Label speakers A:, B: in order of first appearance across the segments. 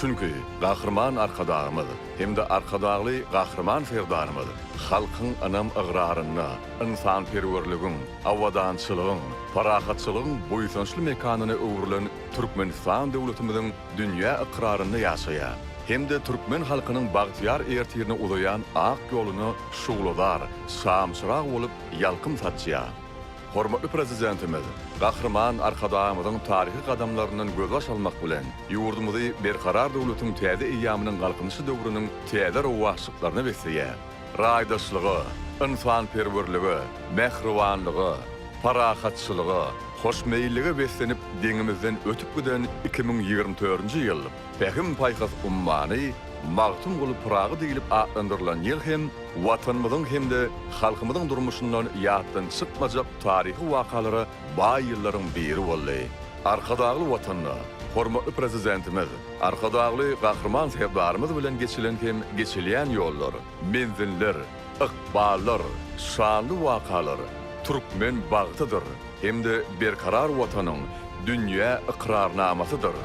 A: Çünki Gahryman Arkadagymyz hem-de Arkadagly Gahryman Serdarymyz halkyň ynam-ygrarynda ynsanperwerligiň, abadançylygyň, parahatçylygyň buýsançly mekanyna öwrülen Türkmenistan döwletimiziň dünýä ykrarynda ýaşaýar hem-de türkmen halkynyň bagtyýar ertirine uzaýan ak ýoluna şugladar şamçyrag bolup ýalkym saçýar. Hormatly Prezidentimiz Gahryman Arkadagymyzyň taryhy gadamlaryndan gözbaş almak bilen, ýurdumyzy Berkarar döwletiň täze eýýamynyň Galkynyşy döwrüniň täze rowaçlyklaryna besleýär. Raýdaşlyga, ynsanperwerlige, mähribanlyga, parahatçylyga, hoşmeýillige beslenip deňimizden ötüp giden iki müň ýigrimi törünji ýyl, Pähim-paýhas ummany Magtymguly Pyragy diýlip atlandyrylan ýyl hem Watanymyzyň hem-de halkymyzyň durmuşyndan ýatdan çykmajak taryhy wakalara baý ýyllaryň biri boldy. Arkadagly Watanda, hormatly Prezidentimiz, Arkadagly Gahryman Serdarymyz bilen geçilen hem geçilýän ýollar, menziller, ykballar, şanly wakalar türkmen bagtydyr hem-de berkarar Watanyň dünýä ykrarnamasydyr.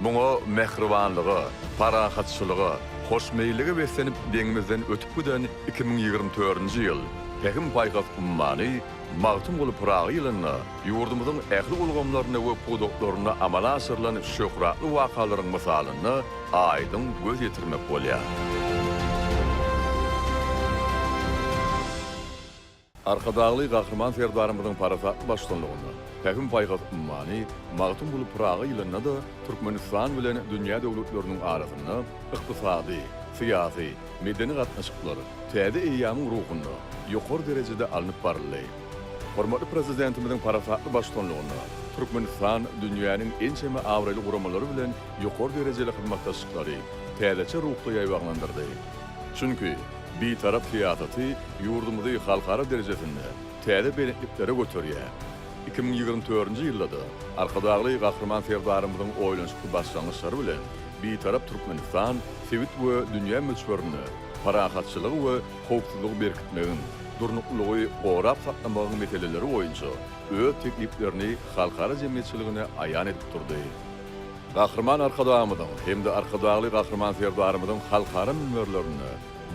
A: Muňa mähribanlyga, parahatçylyga, hoşmeýillige beslenip deňimizden ötüp giden iki müň ýigrimi törünji ýyl Pähim-paýhas ummany Magtymguly Pyragy ýylynda ýurdumyzyň ähli ulgamlarynda we pudaklarynda amala aşyrylan şöhratly wakalaryň mysalynda aýdyň göz ýetirmek bolýar. Arkadagly Gahryman Serdarymyzyň parasatly baştutanlygynda Pähim-paýhas ummany Magtymguly Pyragy ýylynda-da Türkmenistan bilen dünýä döwletleriniň arasynda ykdysady, syýasy, medeni gatnaşyklar täze eýýamyň ruhunda ýokary derejede alnyp baryldy. Hormatly Prezidentimiziň parasatly baştutanlygynda Türkmenistan dünýäniň ençeme abraýly guramalary bilen ýokary derejeli hyzmatdaşlyklary täzeçe ruhda ýaýbaňlandyrdy. Çünki, Bitarap syýasaty ýurdumyzy halkara derejesinde täze belentliklere göterýär. Iki müň ýigrimi dördünji ýylda-da Arkadagly Gahryman Serdarymyzyň oýlanyşykly başlangyçlary bilen Bitarap Türkmenistan sebit we dünýä möçberinde parahatçylygy we howpsuzlygy berkitmegiň, durnuklylygy gorap saklamagyň meseleleri boýunça öz tekliplerini halkara jemgyýetçiligine aýan edip durdy. Gahryman Arkadagymyzyň hem-de Arkadagly Gahryman Serdarymyzyň halkara münberlerinde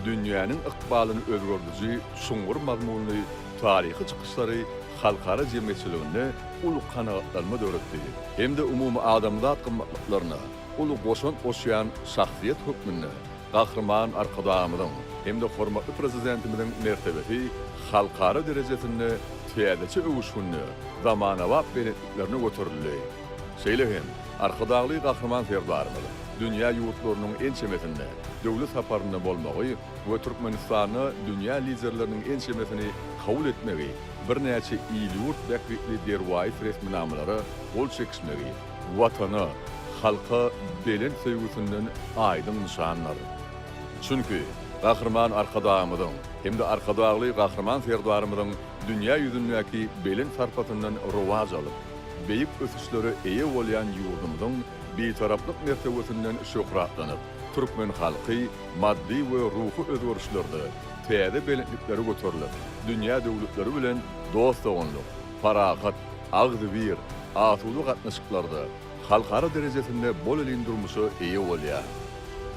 A: dünýäniň ykbalyny özgerdiji çuňňur mazmunly taryhy çykyşlary halkara jemgyýetçiliginde uly kanagatlanma döretdi hem-de umumadamzat gymmatlyklaryna uly goşant goşýan şahsyýet hökmünde Gahryman Arkadagymyzyň hem-de hormatly Prezidentimiziň mertebesi halkara derejesinde täzeçe öwüşginde zamanabap belentliklerine göterildi. Şeýle hem, Arkadagly Gahryman Serdarymyz dünýä ýurtlarynyň ençemesinde döwlet saparynda bolmagy we Türkmenistanda dünýä liderleriniň ençemesini kabul etmegi, birnäçe il-ýurt bähbitli derwaýys resminamalara gol çekişmegi Watana, halka belent söýgüsinden aýdyň nyşandyr. Çünki, Gahryman Arkadagymyzyň hem-de Arkadagly Gahryman Serdarymyzyň dünýä ýüzündäki belent sarpasyndan rowaç alyp, beýik ösüşlere eýe bolýan ýurdumyzyň Bitaraplyk mertebesinden şöhratlanyp, türkmen halky maddy we ruhy özgerişlerde täze belentliklere göterilip, dünýä döwletleri bilen dost-doganlyk, parahat, agzybir, asuda gatnaşyklarda, halkara derejesinde bolelin durmuşa eýe bolýar.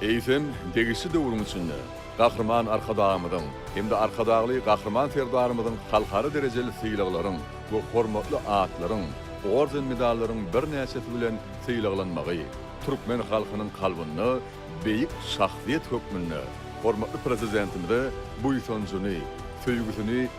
A: Eýsem, degişli döwrüň içinde, Gahryman Arkadagymyzyň hem-de Arkadagly Gahryman Serdarymyzyň halkara derejeli sylaglaryň we hormatly atlaryň, orden-medallaryň birnäçesi bilen sylaglanmagy türkmen halkynyň kalbynda beýik şahsyýet hökmünde hormatly Prezidentimize buýsanjyny, söýgüsini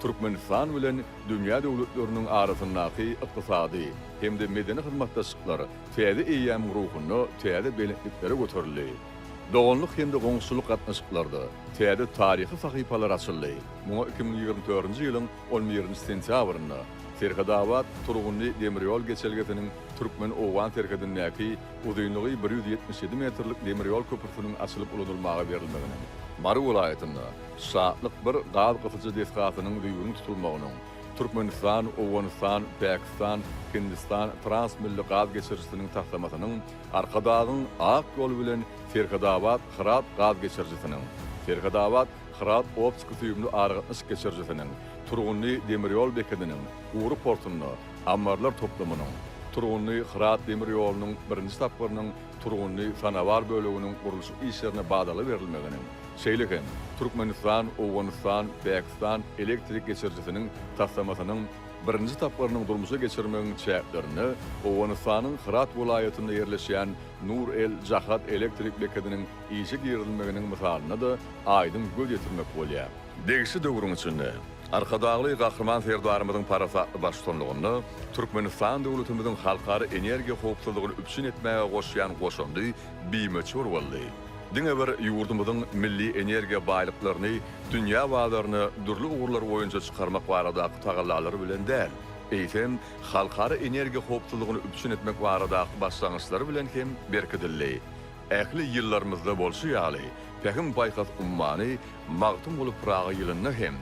A: Türkmenistan bilen dünýä döwletleriniň arasyndaky ykdysady hem-de medeni hyzmatdaşlyklar täze eýýamyň ruhunda täze belentliklere göterildi. Doganlyk hem-de goňşuçylyk gatnaşyklarda täze taryhy sahypalar açyldy. Muňa iki müň ýigrimi törünji ýylyň on birinji sentýabrynda Serhetabat, Turgundy demir ýol geçelgesiniň türkmen-owgan serhedindäki uzynlygy bir ýüz ýetmiş ýedi metrlik demir ýol köprüsiniň açylyp ulanylmaga berilmeginiň, Mary welaýatynda Şatlyk bir gaz gysyjy desgasynyň düýbüniň tutulmagynyň, Türkmenistan, Owganystan, Pakistan, Hindistan transmilli gaz geçirijisiniň taslamasynyň, Arkadagyň Ak ýol bilen Serhetabat, Hyrat gaz geçirijisiniň, Serhetabat, Hyrat optiki-süýümli aragatnaşyk geçirijisiniň, Turgunly demir ýol bekediniň gury portunda ammarlar toplumynyň, Turgunly, Hyrat demir ýolunyň birinji tapgyrynyň Turgunly sanabar böleginiň gurluşyk işlerine badalga berilmeginiň, şeýle hem Türkmenistan, Owganystan, Pakistan elektrik geçirijisiniň taslamasynyň birinji tapgyrynyň durmuşa geçirmegiň çäklerinde Owganystanyň Hyrat welaýatynda ýerleşýän Nur El Jahad elektrik bekediniň işe girizilmeginiň mysalyna-da aýdyň göz ýetirmek bolýar. Degişli döwrüň içinde Arkadagly Gahryman Serdarymyzyň parasatly baştutanlygynda Türkmenistan döwletimiziň halkara energiýa howpsuzlygyny üpjün etmäge goşýan goşandy bimöçber boldy. Diňe bir ýurdumyzyň milli energiýa baýlyklaryny dünýä bazaryna dürli ugurlar boýunça çykarmak baradaky tagallalary bilen däl, eýsem, halkara energiýa howpsuzlygyny üpjün etmek baradaky başlangyçlary bilen hem berkidildi. Ähli ýyllarymyzda bolşy ýaly, Pähim-paýhas ummany Magtymguly Pyragy ýylynda hem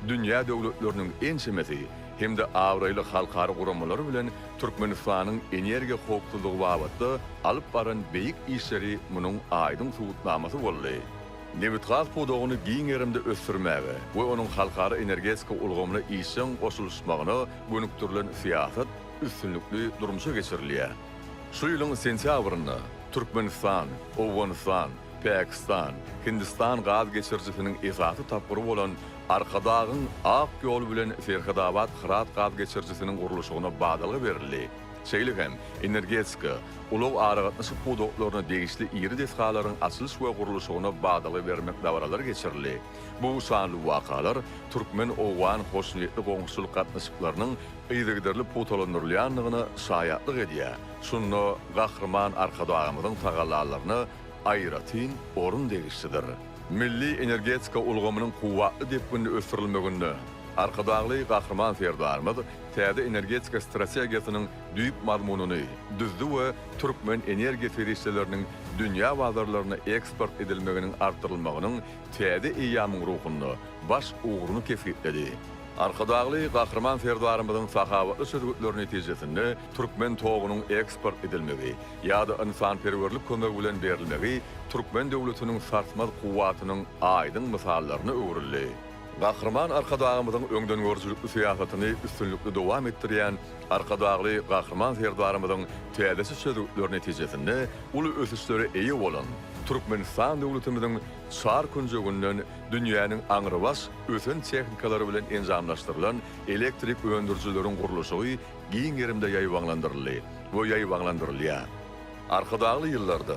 A: dünýä döwletleriniň ençemesi hem-de abraýly halkara guramalary bilen Türkmenistanyň energiýa howpsuzlygy babatda alyp baran beýik işleri munuň aýdyň subutnamasy boldy. Nebitgaz pudagyny giň gerimde ösdürmäge we onuň halkara energetika ulgamyna işjeň goşulyşmagyna gönükdirilen syýasat üstünlikli durmuşa geçirilýär. Şu ýylyň sentýabrynda Türkmenistan, Owganystan, Pakistan, Hindistan gaz geçirijisiniň esasy tapgyry bolan Arkadagyň Ak ýoly bilen Serhetabat-Hyrat gaz geçirijisiniň gurluşygyna badalga berildi, şeýle hem energetika, ulag-aragatnaşyk pudaklarna degişli iri desgalaryň açylyş we gurluşygyna badalga bermek dabaralary geçirildi. Bu şanly wakalar türkmen-owgan hoşniýetli goňşuçylyk gatnaşyklarynyň yzygiderli pugtalandyrylýandygyna şaýatlyk edýär, şunda Gahryman Arkadagymyzyň tagallalaryna aýratyn orun degişlidir. Milli energetika ulgamynyň kuwwatly depginde ösdürilmeginde Arkadagly Gahryman Serdarymyz täze energetika strategiýasynyň düýp mazmunyny düzdi we türkmen energiýa serişdeleriniň dünýä bazarlaryna eksport edilmeginiň artdyrylmagynyň täze eýýamyň ruhunda baş ugruny kesgitledi. Arkadagly Gahryman Serdarymyzyň sahawatly çözgütleri netijesinde türkmen togunyň eksport edilmegi ýa-da ynsanperwerlik kömegi bilen berilmegi türkmen döwletiniň sarsmaz kuwwatynyň aýdyň mysallaryna öwrüldi. Gahryman Arkadagymyzyň öňdengörüjilikli syýasatyny üstünlikli dowam etdirýän Arkadagly Gahryman Serdarymyzyň täze çözgütleri netijesinde uly ösüşlere eýe bolan Türkmenistan döwletimiziň çar künjeginden dünýäniň aňrybaş ösen tehnikalary bilen enjamlaşdyrylan elektrik öndürijileriň gurluşygy giň gerimde ýaýbaňlandyryldy we ýaýbaňlandyrylýar. Arkadagly ýyllarda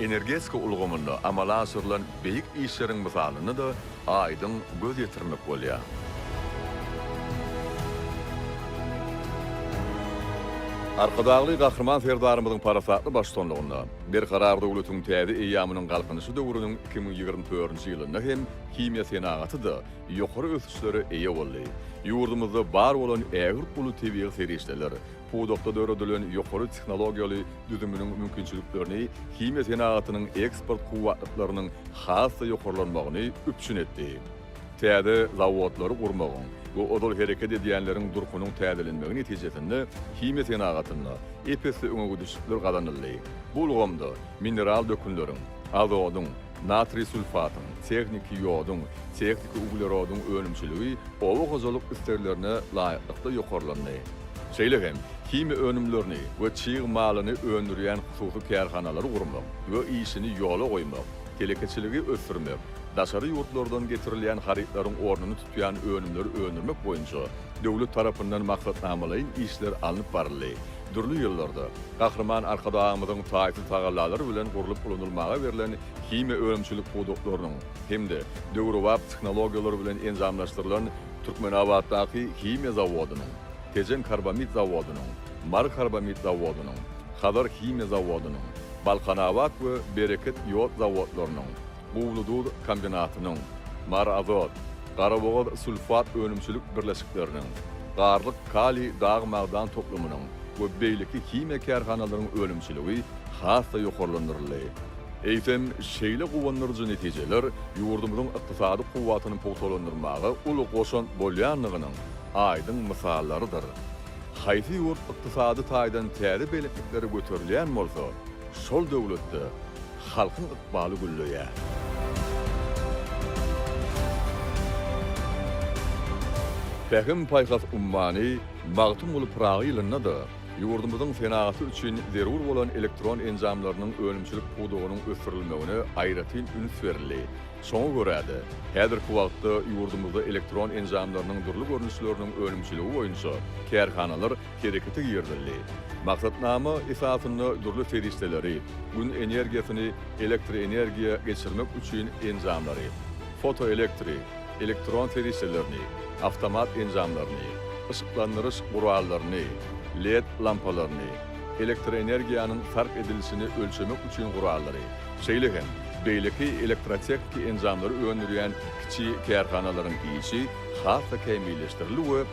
A: Energetika ulgamynda amala aşyrylan beýik işleriň mysalyna-da aýdyň göz ýetirmek bolýar. Arkadagly Gahryman Serdarymyzyň parasatly baştutanlygynda Berkarar döwletiň täze eýýamynyň Galkynyşy döwrüniň iki müň ýigrimi törünji ýylynda hem himiýa senagaty-da ýokary ösüşlere eýe boldy. Ýurdumyzda bar bolan ägirt uly tebigy serişdeler, Pudakda döredilen ýokary tehnologiýaly düzüminiň mümkinçiliklerini himiýa senagatynyň eksport kuwwatlyklarynyň has-da ýokarlanmagyny üpjün etdi. Täze zawodlary gurmagyň we ozal hereket edýänleriň durkunyň täzelenmegi netijesinde himiýa senagatynda ep-esli öňegidişlikler gazanyldy. Bu ulgamda mineral dökünleriň, azodyň, Natriý sulfatyň, tehniki ýoduň, tehniki uglerodyň önümçiligi oba hojalyk isleglerine laýyklykda ýokarlandy. Şeýle hem himiýa önümlerini we çig malyny öndürýän hususy kärhanalary gurmak we işini ýola goýmak, telekeçiligi ösdürmek, daşary ýurtlardan getirilýän harytlaryň ornuny tutýan önümleri öndürmek boýunça döwlet tarapyndan maksatnamalaýyn işler alnyp baryldy. Dürli ýyllarda Gahryman Arkadagymyzyň taýsyz tagallalary bilen gurlup ulanylmaga berlen himiýa önümçilik pudaklarynyň hem-de döwrebap tehnologiýalar bilen enjamlaşdyrylan Türkmenabatdaky himiýa zawodynyň, Tejen karbamid zawodynyň, Mary karbamid zawodynyň, Hazar himiýa zawodynyň, Balkanabat we Bereket ýod zawodlarynyň, Guwlyduz kombinatynyň, Maraazot, Garabogaz sulfat önümçilik birleşikleriniň, Garlyk kaliý dag magdan toplumynyň we beýleki himiýa kärhanalaryň önümçiligi has-da ýokarlandyryldy. Eýsem, şeýle guwandyryjy netijeler ýurdumyzyň ykdysady kuwwatyny pugtalandyrmaga uly goşant bolýandygynyň aýdyň mysallarydyr. Haýsy ýurt ykdysady taýdan täze belentliklere göterilýän bolsa, şol döwletde, Halkyň ykbaly gülleýär. Pähim-paýhas ummany Magtymguly Pyragy ýylynda-da ýurdumyzyň senagaty üçin zerur bolan elektron enjamlarynyň önümçilik pudagynyň ösdürilmegine aýratyn üns berildi. Şoňa görä-de, häzirki wagtda ýurdumyzda elektron enjamlarynyň dürli görnüşleriniň önümçiligi boýunça kärhanalar herekete girizildi. Maksatnama esasynda dürli serişdeleri, Gün energiýasyny elektroenergiýa geçirmek üçin enjamlary, fotoelektri, elektron serişdelerini, awtomat enjamlaryny, yşyklandyryş gurallaryny, led lampalaryny, elektroenergiýanyň sarp edilişini ölçemek üçin gurallary, şeýle hem beýleki elektrotehniki enjamlary öndürýän kiçi kärhanalaryň işi has-da kämilleşdirildi we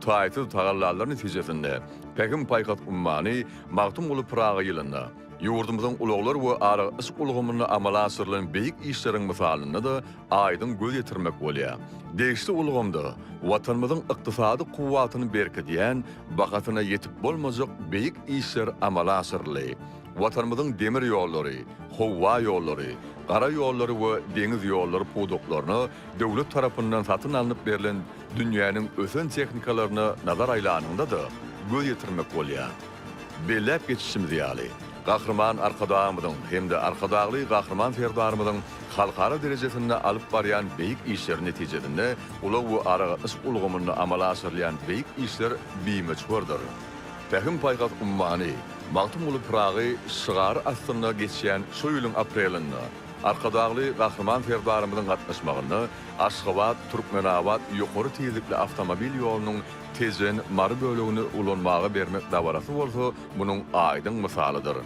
A: taýsyz tagallalar netijesinde Pähim-paýhas ummany Magtymguly Pyragy ýylynda, ýurdumyzyň ulaglar we aragatnaşyk ulgamynda amala aşyrylan beýik işleriň mysalynda-da aýdyň göz ýetirmek bolýar. Degişli ulgamda Watanymyzyň ykdysady kuwwatyny berkidýän, bahasyna ýetip bolmajak beýik işler amala aşyryldy. Watanymyzyň demir ýollary, howa ýollary, gara ýollary we deňiz ýollary pudaklaryna döwlet tarapyndan satyn alnyp berlen Dünýäniň ösen tehnikalaryna nazar aýlanyňda-da, göz ýetirmek bolýar. Belläp geçişimiz ýaly, Gahryman Arkadagymyzyň hem-de Arkadagly Gahryman Serdarymyzyň halkara derejesinde alyp barýan beýik işleri netijesinde ulag we aragatnaşyk ulgamynda amala aşyrylýan beýik işler bimöçberdir. Pähim-paýhas ummany Magtymguly Pyragy şygary astynda geçýän şu ýylyň aprelinde Arkadagly Gahryman Serdarymyzyň gatnaşmagynda Aşgabat, Türkmenabat ýokary tizlikli awtomobil ýolunyň Tejen, Mary bölegini ulanmaga bermek dabarasy bolsa munuň aýdyň mysalydyr.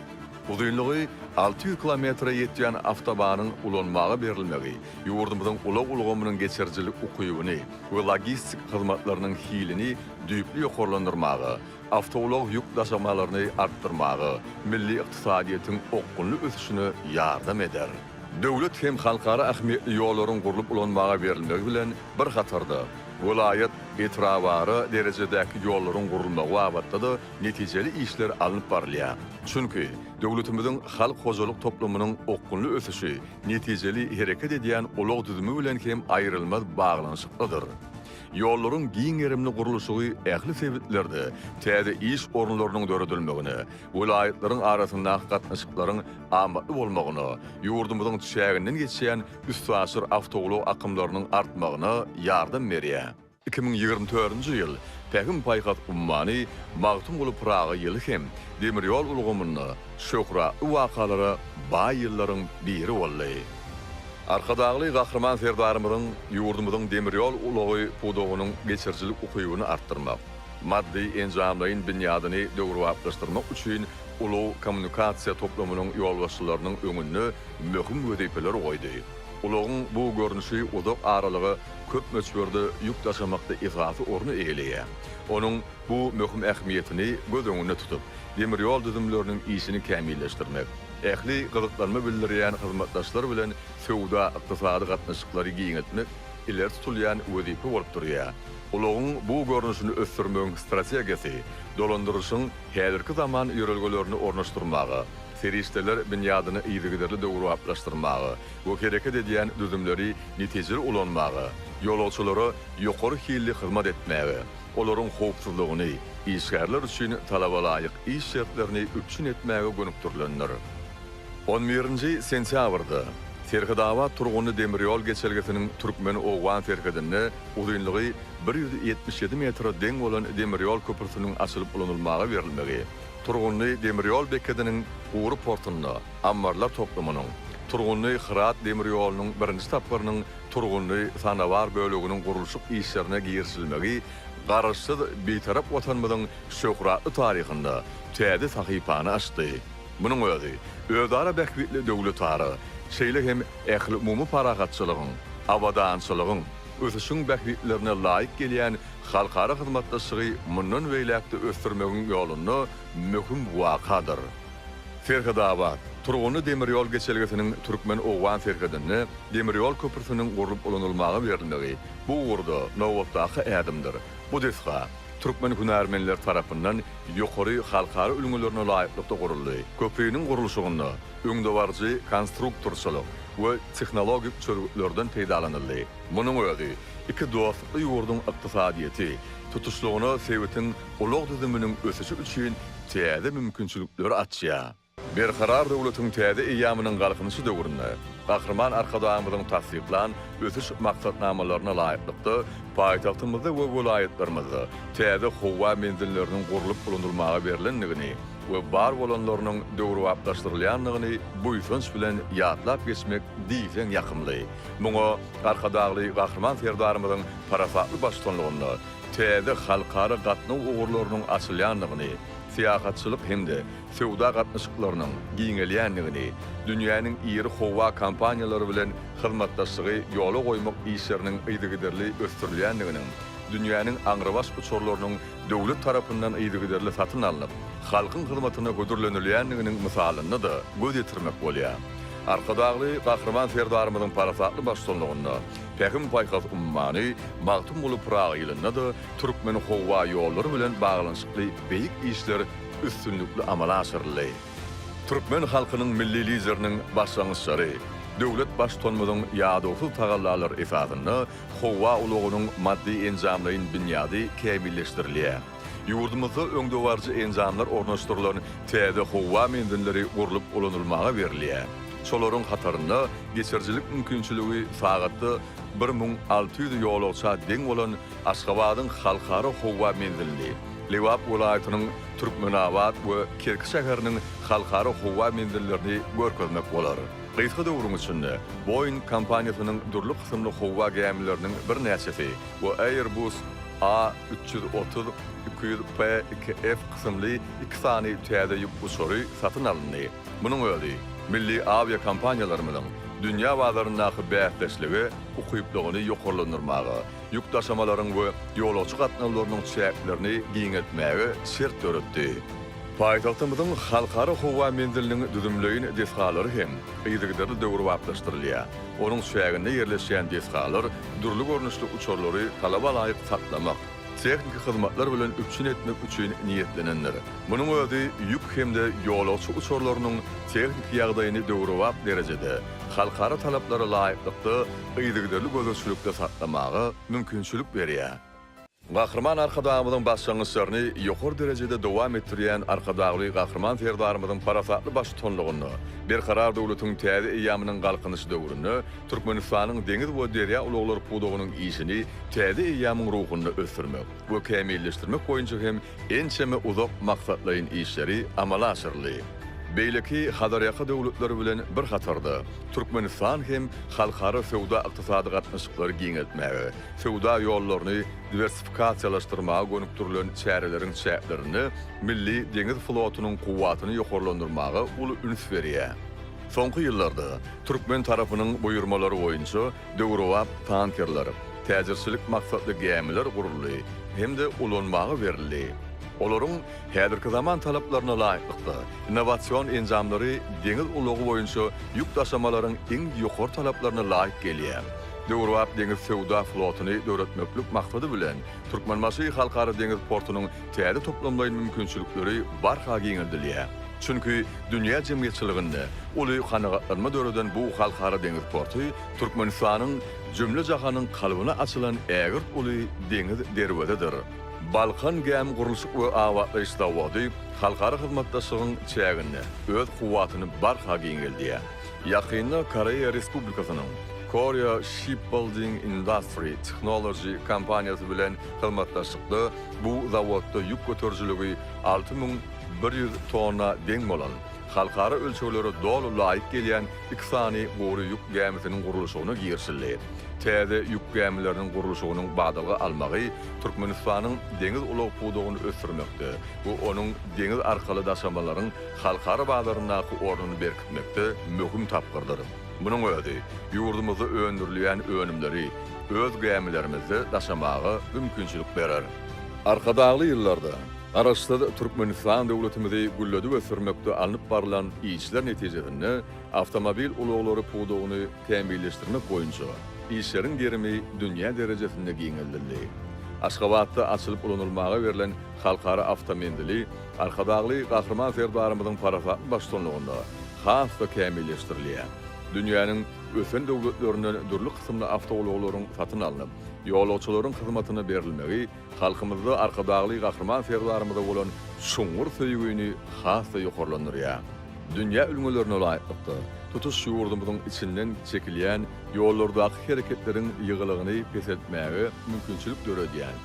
A: Uzynlygy alty ýüz kilometre ýetýän awtobanyň ulanmaga berilmegi ýurdumyzyň ulag ulgamynyň geçirijilik ukybyny we logistik hyzmatlarynyň hilini düýpli ýokarlandyrmaga, awtoulag ýük daşamalaryny artdyrmaga, milli ykdysadyýetiň okgunly ösüşine ýardam eder. Döwlet hem halkara ähmiýetli ýollaryň gurlup ulanmaga berilmegi bilen bir hatarda, welaýat, etrabara derejedäki ýollaryň gurulmagy babatda-da netijeli işler alnyp barylýar. Çünki, döwletimiziň halk hojalyk toplumynyň okgunly ösüşi netijeli hereket edýän ulag düzümi bilen hem aýrylmaz baglanyşyklydyr. Ýollaryň giň gerimli gurluşygy ähli sebitlerde täze iş orunlarynyň döredilmegine, welaýatlaryň arasyndaky gatnaşyklaryň amatly bolmagyna, ýurdumyzyň çäginden geçýän üstaşyr awtoulag akymlarynyň artmagyna ýardam berýär. Iki müň ýigrimi dördünji ýyl Pähim-paýhas ummany Magtymguly Pyragy ýyly hem demir ýol ulgamynda şöhratly wakalara baý ýyllaryň biri boldy. Arkadagly Gahryman Serdarymyzyň ýurdumyzyň demir ýol ulagy pudagynyň geçirijilik ukybyny artdyrmak, maddy-enjamlaýyn binýadyny döwrebaplaşdyrmak üçin ulag-kommunikasiýa toplumynyň ýolbaşçylarynyň öňünde möhüm wezipeler goýdy. Ulagyň bu görnüşi uzak aralyga köp möçberde ýük daşamakda esasy orny eýeleýär. Onuň bu möhüm ähmiýetini göz öňünde tutup, demir ýol düzümleriniň işini kämilleşdirmek, ähli gyzyklanma bildirýän hyzmatdaşlar bilen söwda-ykdysady gatnaşyklary giňeltmek ileri tutulýan wezipe bolup durýar. Ulagyň bu görnüşini ösdürmegiň strategiýasy dolandyrylyşyň häzirki zaman ýörelgelerini ornaşdyrmaga, serişdeler binýadyny yzygiderli döwrebaplaşdyrmaga we hereket edýän düzümleri netijeli ulanmaga, ýolagçylara ýokary hilli hyzmat etmäge, olaryň howpsuzlygyny, işgärler üçin talabalaýyk iş şertlerini üpjün etmäge gönükdirilendir. On birinji sentýabrda Serhetabat turgunly demir ýol geçelgesiniň türkmen-owgan serhedinde Uzynlygy bir ýüz ýetmiş ýedi metre deň bolan demir ýol köprüsiniň açylyp ulanylmaga berilmegi, Turgunly demir ýol bekediniň gury portunda ammarlar toplumynyň, Turgunly, Hyrat demir ýolunyň birinji tapgyrynyň Turgunly, Sanabar böleginiň gurluşyk işlerine girişilmegi Garaşsyz, Bitarap Watanymyzyň şöhratly taryhynda täze sahypany açdy. Munuň özi özara bähbitli döwletara, şeýle hem ähliumumy parahatçylygyň, abadançylygyň, ösüşiň bähbitlerine laýyk gelýän halkara hyzmatdaşlygy mundan beýläk-de ösdürmegiň ýolunda möhüm wakadyr. Serhetabat, Turgunly demir ýol geçelgesiniň türkmen-owgan serhedinde demir ýol köprüsiniň gurlup ulanylmaga berilmegi bu ugurda nobatdaky ädimdir. Bu desga türkmen hünärmenleri tarapyndan ýokary halkara ülňülerine laýyklykda guruldy. Köpriniň gurluşygynda öňdebaryjy konstruktorçylyk we tehnologik çözgütlerden peýdalanyldy. Munuň özi iki dostlukly ýurduň ykdysadyýeti, tutuşlygyna sebitiň ulag düzüminiň ösüşi üçin täze mümkinçilikleri açýar. Berkarar döwletiň täze eýýamynyň Galkynyşy döwründe Gahryman Arkadagymyzyň tassyklan ösüş maksatnamalaryna laýyklykda, paýtagtymyzda we welaýatlarymyzda täze howa menzilleriniň gurlup ulanylmaga berlendigini, we bar bolanlarynyň döwrebaplaşdyrylýandygyny buýsanç bilen ýatlap geçmek diýseň ýakymly. Muňa Arkadagly Gahryman Serdarymyzyň parasatly baştutanlygynda täze halkara gatnaw ugurlarynyň açylýandygyny, syýahatçylyk hem-de söwda gatnaşyklarynyň giňelýändigini, dünýäniň iri howa kompaniýalary bilen hyzmatdaşlygy ýola goýmak işleriniň yzygiderli ösdürilýändiginiň, dünýäniň aňrybaş uçarlarynyň döwlet tarapyndan yzygiderli satyn alnyp, halkyň hyzmatyna hödürlenilýändiginiň mysalyny-da göz ýetirmek bolýar. Arkadagly Gahryman Serdarymyzyň parasatly baştutanlygynda Pähim-paýhas ummany Magtymguly Pyragy ýylynda-da Türkmenhowaýollary bilen baglanyşykly beýik işler üstünlikli amala aşyryldy. Türkmen halkynyň Milli Lideriniň başlangyçlary, döwlet Baştutanymyzyň ýadawsyz tagallalary esasynda Howa ulagynyň maddy-enjamlaýyn binýady kämilleşdirilýär. Ýurdumyzda öňdebaryjy enjamlar ornaşdyrylan täze howa menzilleri gurlup ulanylmaga berilýär. Şolaryň hatarynda geçirijilik mümkinçiligi sagatda bir müň alty ýüz ýolagça deň bolan Aşgabadyň Halkara howa menzilini, Lebap welaýatynyň Türkmenabat we Kerki şäheriniň Halkara howa menzillerini görkezmek bolar. Gysga döwrüň içinde Boeing kompaniýasynyň dürli kysymly howa gämileriniň birnäçesi we Airbus A üç ýüz otuz, iki ýüz P iki F kysymly iki sany täze ýük uçary satyn alyndy. Munuň özi milli awiakompaniýalarymyzyň dünýä bazaryndaky bäsdeşlige ukyplygyny ýokarlandyrmaga, ýük daşamalaryň we ýolagçy gatnawlarynyň çäklerini giňeltmäge şert döretdi. Paýtagtymyzyň Halkara howa menziliniň düzümleýin desgalary hem yzygiderli döwrebaplaşdyrylýar. Onuň çäginde ýerleşýän desgalar dürli görnüşli uçarlary talabalaýyk saklamak, tehniki hyzmatlar bilen üpjün etmek üçin niýetlenendir. Munuň özi ýük hem-de ýolagçy uçarlarynyň tehniki ýagdaýyny döwrebap derejede, halkara talaplara laýyklykda yzygiderli gözegçilikde saklamaga mümkinçilik berýär. Gahryman Arkadagymyzyň başlangyçlaryny ýokary derejede dowam etdirýän Arkadagly Gahryman Serdarymyzyň parasatly baştutanlygynda Berkarar döwletiň täze eýýamynyň Galkynyş döwründe Türkmenistanyň deňiz we derýa ulaglary pudagynyň işini täze eýýamyň ruhunda ösdürmek we kämilleşdirmek boýunça hem ençeme uzak maksatlaýyn işleri amala aşyryldy. Beýleki Hazarýaka döwletleri bilen bir hatarda, Türkmenistan hem halkara söwda-ykdysady gatnaşyklary giňeltmäge, Söwda ýollaryny diwersifikasiýalaşdyrmaga gönükdirilen çäreleriň çäklerinde milli deňiz flotunyň kuwwatyny ýokarlandyrmaga uly üns berýär. Soňky ýyllarda türkmen tarapynyň buýurmalary boýunça döwrebap tankerler, täjirçilik maksatly gämiler guruldy hem-de ulanmaga berildi. Olaryň häzirki zaman talaplaryna laýyklykda, innowasion enjamlary deňiz ulagy boýunça ýük daşamalaryň iň ýokary talaplaryna laýyk gelýär. Döwrebap deňiz söwda flotuny döretmeklik maksady bilen, Türkmenbaşy Halkara deňiz portunyň täze toplamlaýyn mümkinçilikleri barha giňeldilýär. Çünki dünýä jemgyýetçiliginde uly kanagatlanma döreden bu halkara deňiz porty Türkmenistanyň jümle-jahanyň kalbyna açylan ägirt uly deňiz derwezedir. Balkan gämi gurluşyk we abatlaýyş zawody halkara hyzmatdaşlygyň çäginde öz kuwwatyny barha giňeldýär. Ýakynda Koreýa Respublikasynyň Korea Shipbuilding Industry Technology kompaniýasy bilen hyzmatdaşlykda bu zawodda ýük göterijiligi alty müň bir ýüz tonna deň bolan, halkara ölçeglere doly laýyk gelýän iki sany gury ýük gämisiniň gurluşygyna girişildi. Täze ýük gämileriniň gurluşygynyň badalga almagy Türkmenistanyň deňiz ulag pudagyny ösdürmekde we onuň deňiz arkaly daşamalaryň halkara bazaryndaky ornuny berkitmekde möhüm tapgyrdyr. Munuň özi ýurdumyzda öndürilýän önümleri öz gämilerimizde daşamaga mümkinçilik berer. Arkadagly ýyllarda Garaşsyz Türkmenistan döwletimizi gülledip ösdürmekde alnyp barlan işler netijesinde awtomobil ulaglary pudagyny kämilleşdirmek boýunça işleriň gerimi dünýä derejesinde giňeldildi. Aşgabatda açylyp ulanylmaga berlen halkara awtomenzili, Arkadagly Gahryman Serdarymyzyň parasatly baştutanlygynda has-da kämilleşdirilýär. Dünýäniň ösen döwletlerinden dürli kysymly awtoulaglaryň satyn alnyp, ýolagçylaryň hyzmatyna berilmegi halkymyzda Arkadagly Gahryman Serdarymyza bolan çuňňur söýgini has-da ýokarlandyrýar. Dünýä ülňülerine laýyklykda, tutuş ýurdumyzyň içinden çekilýän ýollardaky hereketleriň ýygylygyny peseltmäge mümkinçilik döredýän,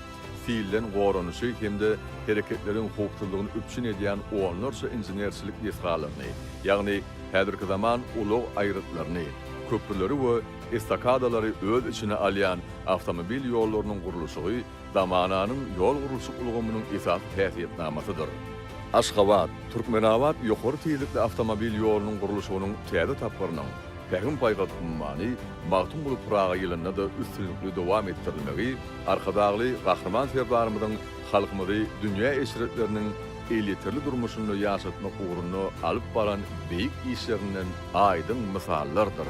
A: silden goranyşy hem-de hereketleriň howpsuzlygyny üpjün edýän onlarça inženerçilik desgalaryny, ýagny häzirki zaman ulag aýrytlaryny, köprüleri we estakadalary öz içine alýan awtomobil ýollarynyň gurluşygy zamananyň ýol gurluşyk ulgamynyň esasy häsiýetnamasydyr. Aşgabat, Türkmenabat ýokary tizlikli awtomobil ýolunyň gurluşygynyň täze tapgyrynyň, Pähim paýhas ummany Magtymguly Pyragy ýylynda-da üstünlikli dowam etdirilmegi Arkadagly Gahryman Serdarymyzyň halkymyzy dünýä eşretleriniň elýeterli durmuşynda ýaşatmak ugrunda alyp baran beýik işlerinden aýdyň mysallardyr.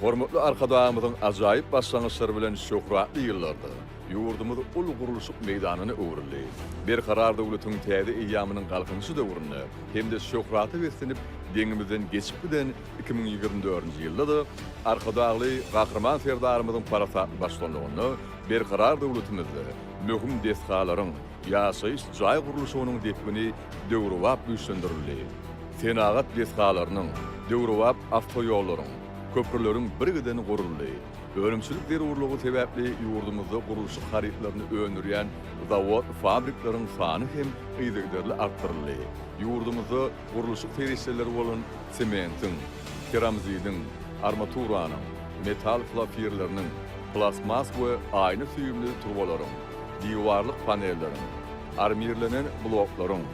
A: Hormatly Arkadagymyzyň ajaýyp başlangyçlary bilen şöhratly ýyllarda, Ýurdumyz uly gurluşyk meýdanyna öwrüldi. Berkarar döwletiň täze eýýamynyň Galkynyşy döwründe hem-de şöhrata beslenip, deňimizden geçip giden iki müň ýigrimi dördünji ýylda-da Arkadagly Gahryman Serdarymyzyň parasatly baştutanlygynda berkarar döwletimizde möhüm desgalaryň, ýaşaýyş jaý gurluşygynyň depgini döwrebap güýçlendirildi. Senagat desgalarynyň, döwrebap awtoýollaryň, köprüleriň birgiden guruldy. Önümçilik zerurlygy sebäpli ýurdumyzda gurluşyk harytlaryny öndürýän zawod-fabrikleriň sany hem yzygiderli artdyryldy. Ýurdumyzda gurluşyk serişdeleri bolan sementiň, keramzidiň, armaturanyň, metal flofirleriniň, plastmas we aýna süýümli turbalaryň, diwarlyk panelleriň, armirlenen bloklaryň,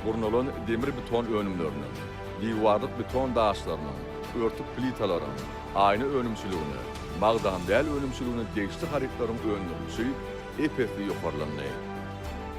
A: gurnalan demir-beton önümleriniň, diwarlyk beton daşlarynyň, örtük plitalaryň, Aýna önümçiligine, magdan däl önümçiligine degişli harytlaryň öndürilişi ep-esli ýokarlandy.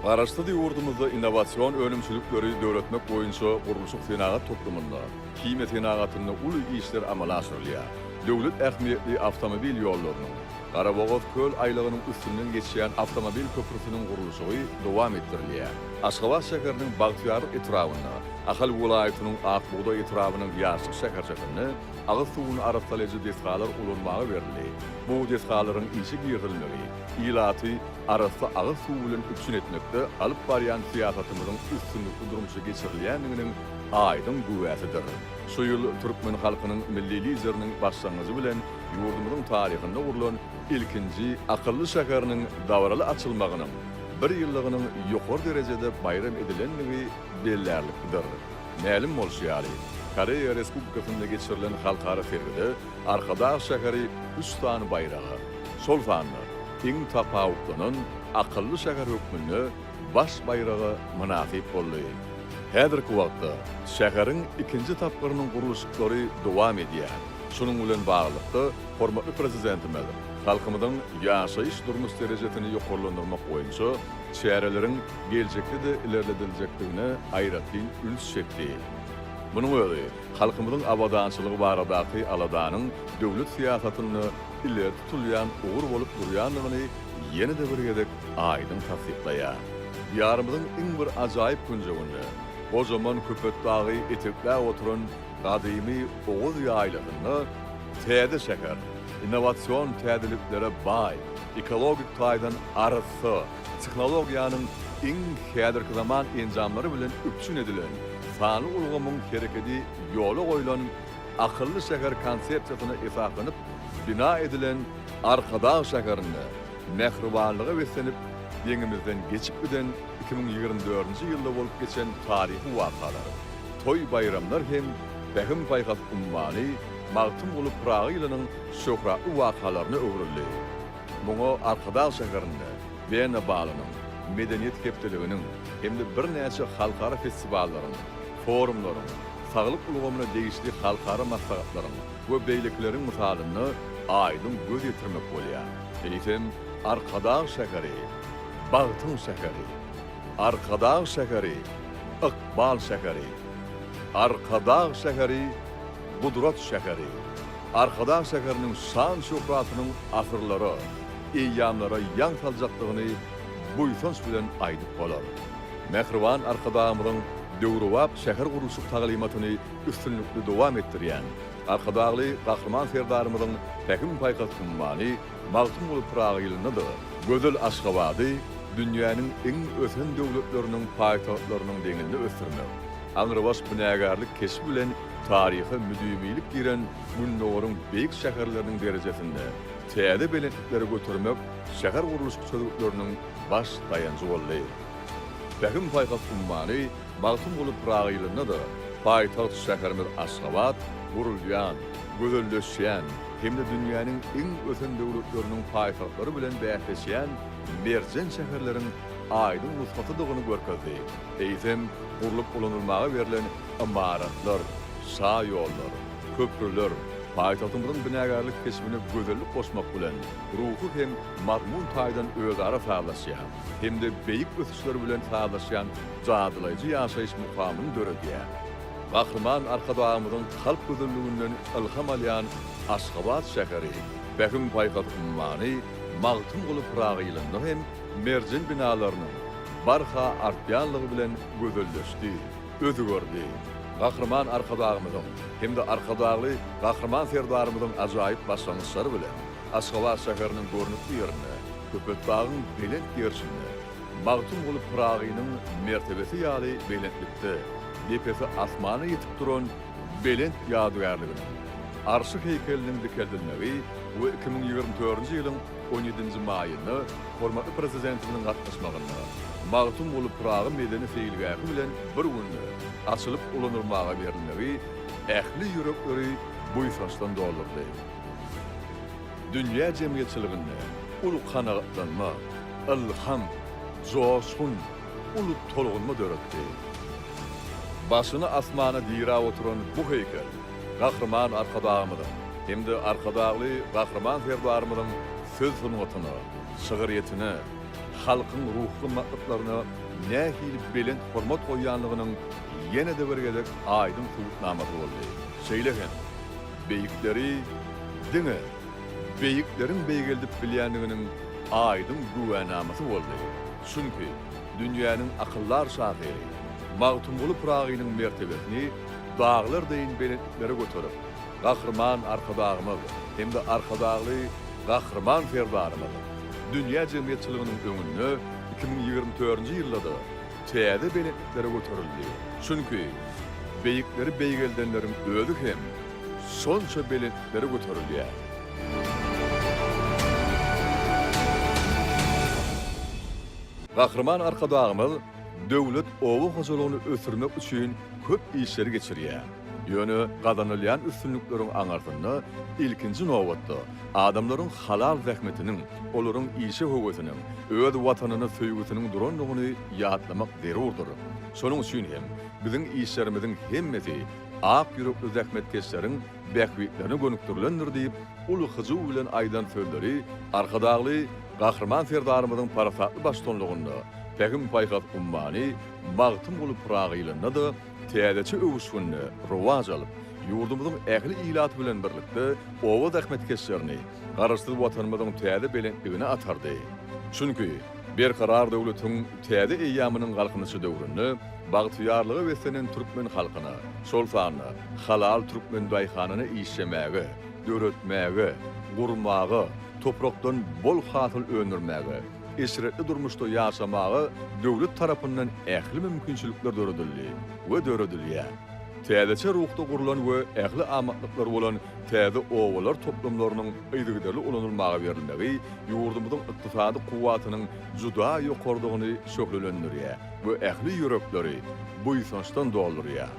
A: Garaşsyz ýurdumyzda innowasion önümçilikleri döretmek boýunça gurluşyk-senagat toplumynda, himiýa senagatynda uly işler amala aşyrylýar. Döwlet ähmiýetli awtomobil ýollarynyň, Garabogaz-Köl aýlagynyň üstünden geçýän awtomobil köprüsiniň gurluşygy dowam etdirilýär. Aşgabat şäheriniň Bagtyýarlyk etrabynda, Ahal welaýatynyň Ak bugdaý etrabynyň Ýaşlyk şäherçesinde Agyz suwuny arassalaýjy desgalar ulanmaga berildi. Bu desgalaryň işe girizilmegi ilaty arassa agyz suwy bilen üpjün etmekde alyp barýan syýasatymyzyň üstünlikli durmuşa geçirilýändiginiň aýdyň güwäsidir. Şu ýyl türkmen halkynyň Milli Lideriniň başlangyjy bilen ýurdumyzyň taryhynda gurlan ilkinji akylly şäheriniň dabaraly açylmagynyň bir ýyllygynyň ýokary derejede baýram edilendigi bellärliklidir. Mälim bolşy ýaly, Koreýa Respublikasynda geçirilen halkara sergide Arkadag şäheri üç sany baýraga, şol sanda iň tapawutlanan akylly şäher hökmünde baş baýraga mynasyp boldy. Häzirki wagtda şäheriň ikinji tapgyrynyň gurluşyklary dowam edýär. Şunuň bilen baglylykda, hormatly Prezidentimiz halkymyzyň ýaşaýyş-durmuş derejesini ýokarlandyrmak boýunça çäreleriň, geljekde-de ilerlediljekdigine aýratyn üns çekdi. Munuň özi halkymyzyň abadançylygy baradaky aladanyň döwlet syýasatynda ileri tutulýan ugur bolup durýandygyny ýene-de bir gezek aýdyň tassyklaýar. Diýarymyzyň iň bir ajaýyp künjeginde, gojaman Köpetdagy etekläp oturan gadymy Oguz ýaýlasynda täze şäher, innowasion täzeliklere baý, ekologik taýdan arassa, Tehnologiýanyň iň häzirki zaman enjamlary bilen üpjün edilen sanly ulgamyň hereketi ýola goýlan Akylly şäher konsepsiýasyna esaslanyp bina edilen, Arkadag şäherinde mähribanlyga beslenip, deňimizden geçip giden iki müň ýigrimi dördünji ýylda bolup geçen taryhy wakalar, toý-baýramlar hem Pähim-paýhas ummany Magtymguly Pyragy ýylynyň şöhratly wakalaryna öwrüldi. Muňa Arkadag şäherinde Wena balynyň, Medeniýet hepdeliginiň hem-de birnäçe halkara festiwallaryň, forumlaryň, saglyk ulgamyna degişli halkara maslahatlaryň we beýlekileriň mysalynda aýdyň göz ýetirmek bolýar. Eýsem, Arkadag şäheri, bagtyň şäheri. Arkadag şäheri, ykbal şäheri. Arkadag şäheri, gudrat şäheri. Arkadag şäheriniň şan-şöhratynyň asyrlara, eýýamlara ýaň saljakdygyny buýsanç bilen aýdyp bolar. Mähriban Arkadagymyzyň döwrebap şähergurluşyk taglymatyny üstünlikli dowam etdirýän Arkadagly Gahryman Serdarymyzyň Pähim-paýhas ummany Magtymguly Pyragy ýylynda-da gözel Aşgabady dünýäniň iň ösen döwletleriniň paýtagtlarynyň deňinde ösdürmek aňrybaş binagärlik keşbi bilen Taryha müdimilik giren Gündogaryň beýik şäherleriniň derejesinde täze belentliklere götermek şähergurluşyk çözgütleriniň baş daýanjy boldy. Pähim-paýhas ummany Magtymguly Pyragy ýylynda-da paýtagt şäherimiz Aşgabat gurulýan, gözelleşýän hem-de dünýäniň iň ösen döwletleriniň paýtagtlary bilen bäsleşýän merjen şäherleriň aýdyň nusgasydygyny görkezdi, eýsem, gurlup ulanylmaga berlen Ymaratlar, şaýollar, köprüler paýtagtymyzyň binagärlik keşbine gözellik goşmak bilen, ruhy hem mazmun taýdan özara sazlaşýan hem-de beýik ösüşler bilen sazlaşýan jadylaýjy ýaşaýyş mukamyny döredýär. Gahryman Arkadagymyzyň kalp gözelliginden ylham alýan Aşgabat şäheri, Pähim paýhas ummany Magtymguly Pyragy ýylynda hem merjen binalarynyň barha artýanlygy bilen gözelleşdi. özi gördi. Gahryman Arkadagymyzyň hem-de Arkadagly Gahryman Serdarymyzyň ajaýyp başlangyçlary bilen Aşgabat şäheriniň görnükli ýerinde, Köpetdagyň belent gerşinde, Magtymguly Pyragynyň mertebesi ýaly belentlikde, depesi asmana ýetip duran belent ýadygärliginiň Arşy heýkeliniň dikeldilmegi we iki müň ýigrimi dördünji ýylyň On ýedinji maýynda hormatly Prezidentimiziň gatnaşmagynda Magtymguly Pyragy medeni seýilgähi bilen bir günde açylyp ulanylmaga berilmegi ähli ýürekleri buýsançdan doldurdy. Dünýä jemgyýetçiliginde uly kanagatlanma, ylham, joşgun, uly tolgunma döretdi. Başyny asmana diräp oturan bu heýkel Gahryman Arkadagymyzyň hem-de Arkadagly Gahryman Serdarymyzyň söz sungatyna, şygyrýetine, halkyň ruhy gymmatlyklaryna nähili belent hormat goýýanlygynyň ýene-de bir gezek aýdyň subutnamasy boldy. Şeýle hem, beýikleri diňe beýikleriň beýgeldip bilýändiginiň aýdyň güwänamasy boldy. Çünki dünýäniň akyldar şahyry Magtymguly Pyragynyň mertebesini Daglar deýin belentliklere göterip, Gahryman Arkadagymyz hem-de Arkadagly Gahryman Serdarymyz dünýä jemgyýetçiliginiň öňünde iki müň ýigrimi törünji ýylda-da täze belentliklere göterildi. Çünki beýikleri beýgeldenleriň özi hem şonça belentliklere göterilýär. Gahryman Arkadagymyz Döwlet oba hojalygyny ösdürmek üçin köp işleri geçirýär. Ýöne gazanylýan üstünlikleriň aňyrsynda, ilkinji nobatda, adamlaryň halal zähmetiniň, olaryň işe höwesiniň, öz Watanyna söýgüsiniň durandygyny ýatlamak zerurdyr. Şonuň üçin hem, biziň işlerimiziň hemmesi ak ýürekli zähmetkeşleriň bähbitlerine gönükdirilendir diýip, uly hyjuw bilen aýdan sözleri Arkadagly Gahryman Serdarymyzyň parasatly baştutanlygynda Pähim-paýhas ummany Magtymguly Pyragy ýylynda-da täzeçe öwüşginde rowaç alyp, ýurdumyzyň ähli ilaty bilen birlikde oba zähmetkeşlerini, Garaşsyz Watanymyzyň täze belentligine atardy. Çünki, Berkarar döwletiň täze eýýamynyň Galkynyşy döwründe bagtyýarlyga beslenen türkmen halkyna, şol sanda halal türkmen daýhanyna işlemäge, döretmäge, gurmaga, toprakdan bol hasyl öndürmäge, eşretli durmuşda ýaşamaga döwlet tarapyndan ähli mümkinçilikler döredildi we döredilýär. Täzeçe ruhda gurlan we ähli amatlyklary bolan Täze obalar toplumlarynyň yzygiderli ulanylmaga berilmegi ýurdumyzyň ykdysady kuwwatynyň juda ýokarydygyny şöhlelendirýär we ähli ýürekleri buýsançdan doldurýar.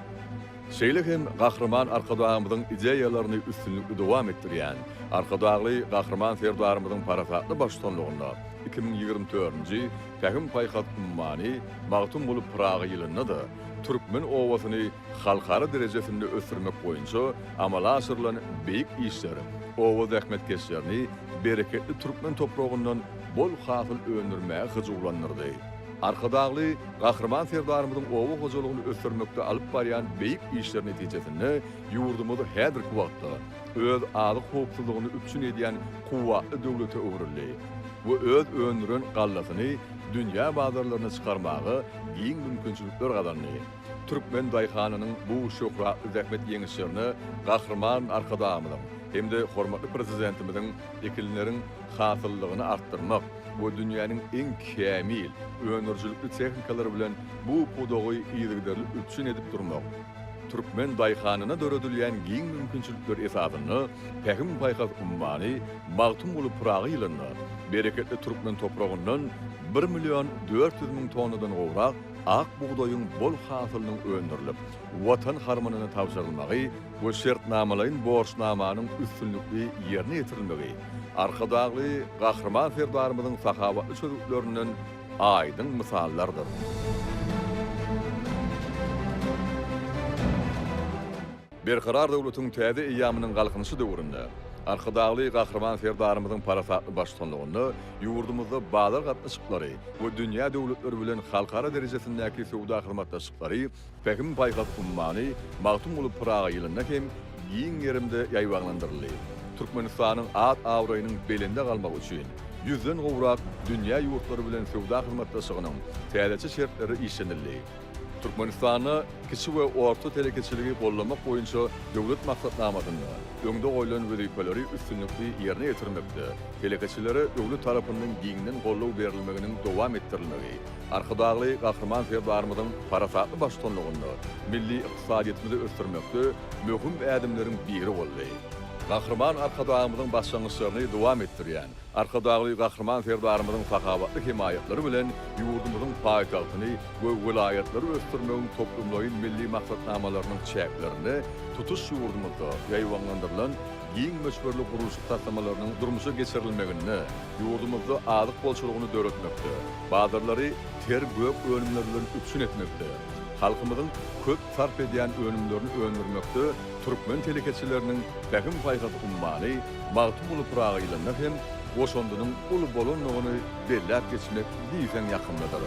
A: Şeýle hem Gahryman Arkadagymyzyň ideýalaryny üstünlikli dowam etdirýän Arkadagly Gahryman Serdarymyzyň parasatly baştutanlygynda iki müň ýigrimi dördünji Pähim-paýhas ummany Magtymguly Pyragy ýylynda-da türkmen obasyny halkara derejesinde ösdürmek boýunça amala aşyrylan beýik işler oba zähmetkeşlerini bereketli türkmen topragyndan bol hasyl öndürmäge hyjuwlandyrdy. Arkadagly Gahryman Serdarymyzyň oba hojalygyny ösdürmekde alyp barýan beýik işleri netijesinde ýurdumyz häzirki wagtda öz azyk howpsuzlygyny üpjün edýän kuwwatly döwlete öwrüldi we öz öndüren gallasyny dünýä bazarlaryna çykarmaga giň mümkinçilikler gazandy. Türkmen daýhanynyň bu şöhratly zähmet ýeňişlerine Gahryman Arkadagymyzyň hem-de hormatly Prezidentimiziň ekinleriň hasyllygyny artdyrmak we dünýäniň iň kämil, öndürijilikli tehnikalary bilen bu pudagy yzygiderli üpjün edip durmak, türkmen daýhanyna döredilýän giň mümkinçilikler esasynda Pähim-paýhas ummany Magtymguly Pyragy ýylynda bereketli türkmen topragyndan bir million dört ýüz müň tonnadan gowrak Ak bugdaýyň bol hasylynyň öndürilip, Watan harmanyna tabşyrylmagy we şertnamalaýyn borçnamanyň üstünlikli ýerine ýetirilmegi Arkadagly Gahryman Serdarymyzyň sahawatly çözgütlerinden aýdyň mysallardyr. Berkarar döwletiň täze eýýamynyň Galkynyşy döwründe Arkadagly Gahryman Serdarymyzyň parasatly baştutanlygynda ýurdumyzda bazar gatnaşyklary we dünýä döwletleri bilen halkara derejesindäki söwda hyzmatdaşlyklary Pähim-paýhas ummany Magtymguly Pyragy ýylynda hem giň gerimde ýaýbaňlandyryldy. Türkmenistanyň at-abraýynyň belende galmagy üçin ýüzden gowrak dünýä ýurtlary bilen söwda hyzmatdaşlygynyň täzeçe şertleri işlenildi. Türkmenistanda kiçi we orta telekeçiligi goldamak boýunça döwlet maksatnamasynda öňde goýlan wezipeleri üstünlikli ýerine ýetirmekde telekeçilere döwlet tarapyndan giňden goldaw berilmeginiň dowam etdirilmegi Arkadagly Gahryman Serdarymyzyň parasatly baştutanlygynda milli ykdysadyýetimizi ösdürmekde möhüm ädimleriň biri boldy. Gahryman Arkadagymyzyň başlangyçlaryny dowam etdirýän, Arkadagly Gahryman Serdarymyzyň sakawatly hemaýatlary bilen ýurdumyzyň paýtagtyny we welaýatlary ösdürmegiň toplumlaýyn milli maksatnamalarynyň çäklerinde tutuş ýurdumyzda ýaýbaňlandyrylan giň möçberli gurluşyk taslamalarynyň durmuşa geçirilmeginde ýurdumyzda azyk bolçulygyny döretmekde, bazarlary ter gök önümler bilen üpjün etmekde, halkymyzyň köp sarp edýän önümlerini öndürmekde türkmen telekeçileriniň pähim-paýhas ummany Magtymguly Pyragy ýylynda hem goşandynyň uly bolandygyny belläp geçmek diýseň ýakymlydyr.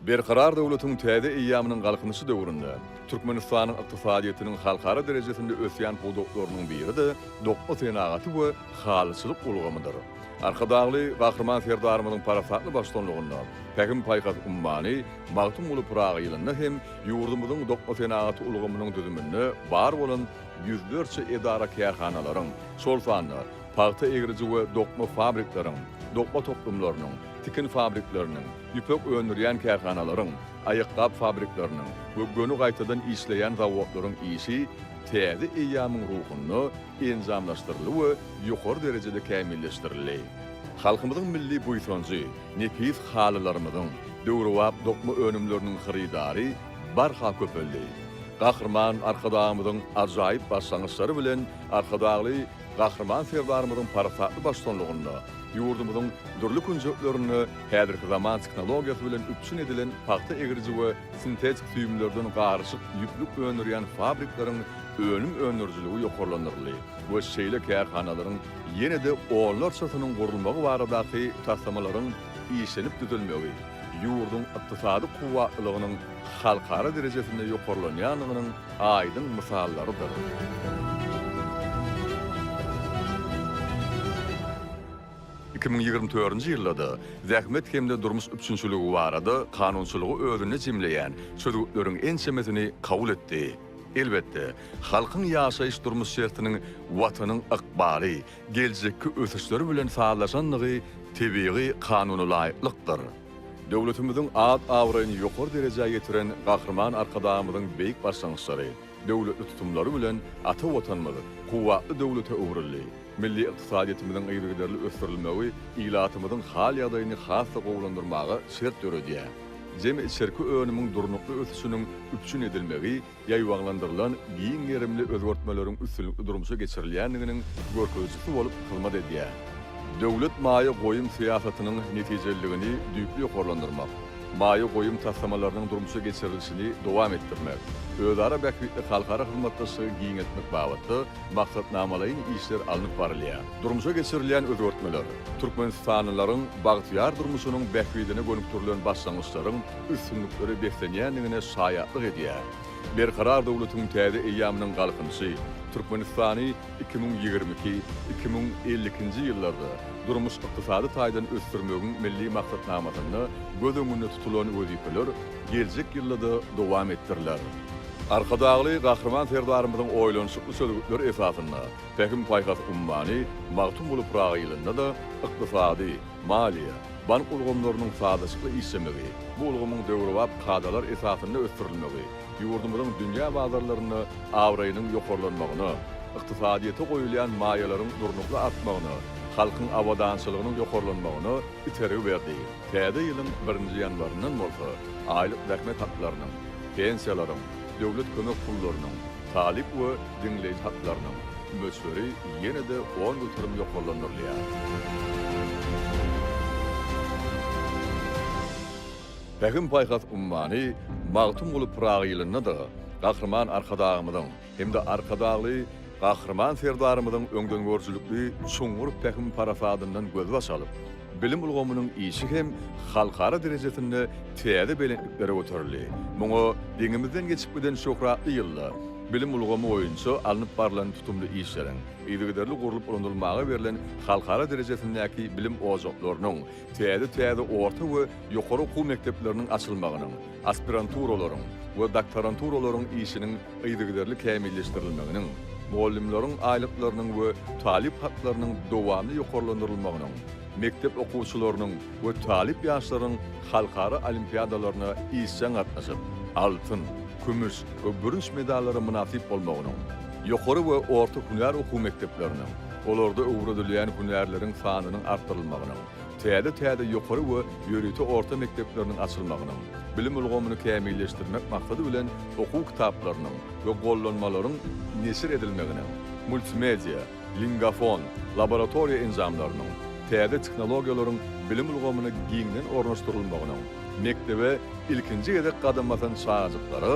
A: Berkarar döwletiň täze eýýamynyň Galkynyşy döwründe Türkmenistanyň ykdysadyýetiniň halkara derejesinde ösýän pudaklarynyň biri-de dokma senagaty we halyçylyk ulgamydyr. Arkadagly Gahryman Serdarymyzyň parasatly baştutanlygynda Pähim-paýhas ummany Magtymguly Pyragy ýylynda hem ýurdumyzyň dokma senagaty ulgamynyň düzüminde bar bolan ýüzlerçe edara-kärhanalaryň, şol sanda pagta egriji we dokma fabrikleriň, dokma toplumlarynyň, tikin fabrikleriniň, ýüpek öndürýän kärhanalaryň, aýakgap fabrikleriniň we göni gaýtadan işleýän zawodlaryň işi täze eýýamyň ruhunda enjamlaşdyryldy we ýokary derejede kämilleşdirildi. Halkymyzyň milli buýsanjy, nepis halylarymyzyň, döwrebap dokma önümleriniň hyrydary barha köpeldi. Gahryman Arkadagymyzyň ajaýyp başlangyçlary bilen Arkadagly Gahryman Serdarymyzyň parasatly baştutanlygynda ýurdumyzyň dürli künjeklerinde häzirki zaman tehnologiýasy bilen üpjün edilen pagta egriji we sintetik süýümlerden garyşyk ýüplük öndürýän fabrikleriň önüm öndürijiligi ýokarlandyryldy we şeýle kärhanalaryň ýene-de onlarçasynyň gurulmagy baradaky taslamalaryň işlenip düzülmegi ýurduň ykdysady kuwwatlylygynyň halkara derejesinde ýokarlanýandygynyň aýdyň mysallarydyr. Iki müň ýigrimi dördünji ýylda-da zähmet hem-de durmuş üpjünçiligi barada kanunçylygy özünde jemleýän çözgütleriň ençemesini kabul etdi. Elbetde, halkyň ýaşaýyş-durmuş şertiniň Watanyň ykbaly, geljekki ösüşleri bilen sazlaşandygy tebigy kanunalaýyklykdyr. Döwletimiziň at-abraýyny ýokary derejä ýetiren Gahryman Arkadagymyzyň beýik başlangyçlary, döwletli tutumlary bilen ata Watanymyz kuwwatly döwlete öwrüldi. Milli ykdysadyýetimiziň yzygiderli ösdürilmegi ilatymyzyň hal-ýagdaýyny has-da gowulandyrmaga şert döredýär. Jemi içerki önümiň durnukly ösüşiniň üpjün edilmegi ýaýbaňlandyrylan giň gerimli özgertmeleriň üstünlikli durmuşa geçirilýändiginiň görkezijisi bolup hyzmat edýär. Döwlet maýa goýum syýasatynyň netijeliligini düýpli ýokarlandyrmak, maýa goýum taslamalarynyň durmuşa geçirilişini dowam etdirmek, özara bähbitli halkara hyzmatdaşlygy giňeltmek babatda maksatnamalaýyn işler alnyp barylýar. Durmuşa geçirilýän özgertmeler türkmenistanlylaryň bagtyýar durmuşynyň bähbidine gönükdirilen başlangyçlaryň üstünliklere beslenýändigine şaýatlyk edýär. Berkarar döwletiň täze eýýamynyň Galkynyşy Türkmenistany iki müň ýigrimi iki, iki müň elli ikinji ýyllarda durmuş-ykdysady taýdan ösdürmegiň Milli maksatnamasynda göz öňünde tutulan wezipeler geljek ýylda-da dowam etdiriler. Arkadagly Gahryman Serdarymyzyň oýlanyşykly çözgütleri esasynda Pähim-paýhas ummany Magtymguly Pyragy ýylynda-da ykdysady, maliýe, bank ulgamlarynyň sazlaşykly işlemegi, bu ulgamyň döwrebap kadalar esasynda ösdürilmegi ýurdumyzyň dünýä bazarlarynda abraýynyň ýokarlanmagyna, ykdysadyýete goýulýan maýalaryň durnukly artmagyna, halkyň abadançylygynyň ýokarlanmagyna itergi berdi. Täze ýylyň birinji ýanwaryndan bolsa aýlyk zähmet haklarynyň, pensiýalaryň, döwlet kömek pullarynyň, talyp we diňleýji haklarynyň möçberi ýene-de on göterim ýokarlandyrylýar. Pähim-paýhas ummany Magtymguly Pyragy ýylynda-da Gahryman Arkadagymyzyň, hem-de Arkadagly Gahryman Serdarymyzyň öňdengörüjilikli çuňňur pähim-parasadyndan gözbaş alyp, bilim ulgamynyň işi hem halkara derejesinde täze belentliklere göterildi. Muňa deňimizden geçip giden şöhratly ýylda bilim ulgamy boýunça alnyp barlan tutumly işleriň, yzygiderli gurlup ulanylmaga berlen halkara derejesindäki bilim ojaklarynyň, täze-täze orta we ýokary okuw mekdepleriniň açylmagynyň, aspiranturalaryň we doktoranturalaryň işiniň yzygiderli kämilleşdirilmeginiň, mugallymlaryň aýlyklarynyň we talyp haklarynyň dowamly ýokarlandyrylmagynyň, mekdep okuwçylarynyň we talyp ýaşlaryň halkara olimpiadalaryna işjeň gatnaşyp, altyn, kümüş we bürünç medallara mynasyp bolmagynyň, ýokary we orta hünär okuw mekdepleriniň, olarda öwredilýän hünärleriň sanynyň artdyrylmagynyň, Täze-täze ýokary we ýörite orta mekdepleriniň açylmagynyň, bilim ulgamyny kämilleşdirmek maksady bilen okuw kitaplarynyň we gollanmalaryň neşir edilmeginiň, multimedia, lingafon, laboratoriýa enjamlarynyň, täze tehnologiýalaryň bilim ulgamyna giňden ornaşdyrylmagynyň, mekdebe ilkinji gezek gadam basan çagajyklara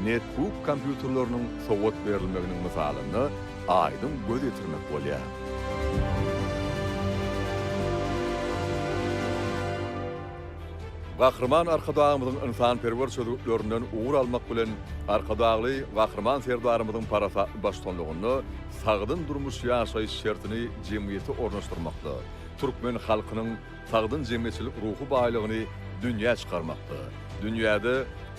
A: netbuk kompýuterleriniň sowgat berilmeginiň mysalynda aýdyň göz ýetirmek bolýar. Gahryman Arkadagymyzyň ynsanperwer çözgütlerinden ugur almak bilen, Arkadagly Gahryman Serdarymyzyň parasatly baştutanlygynda sagdyn durmuş ýaşaýyş şertini jemgyýete ornaşdyrmakda, türkmen halkynyň sagdyn jemgyýetçilik ruhy baýlygyny dünýä çykarmakda, dünýäde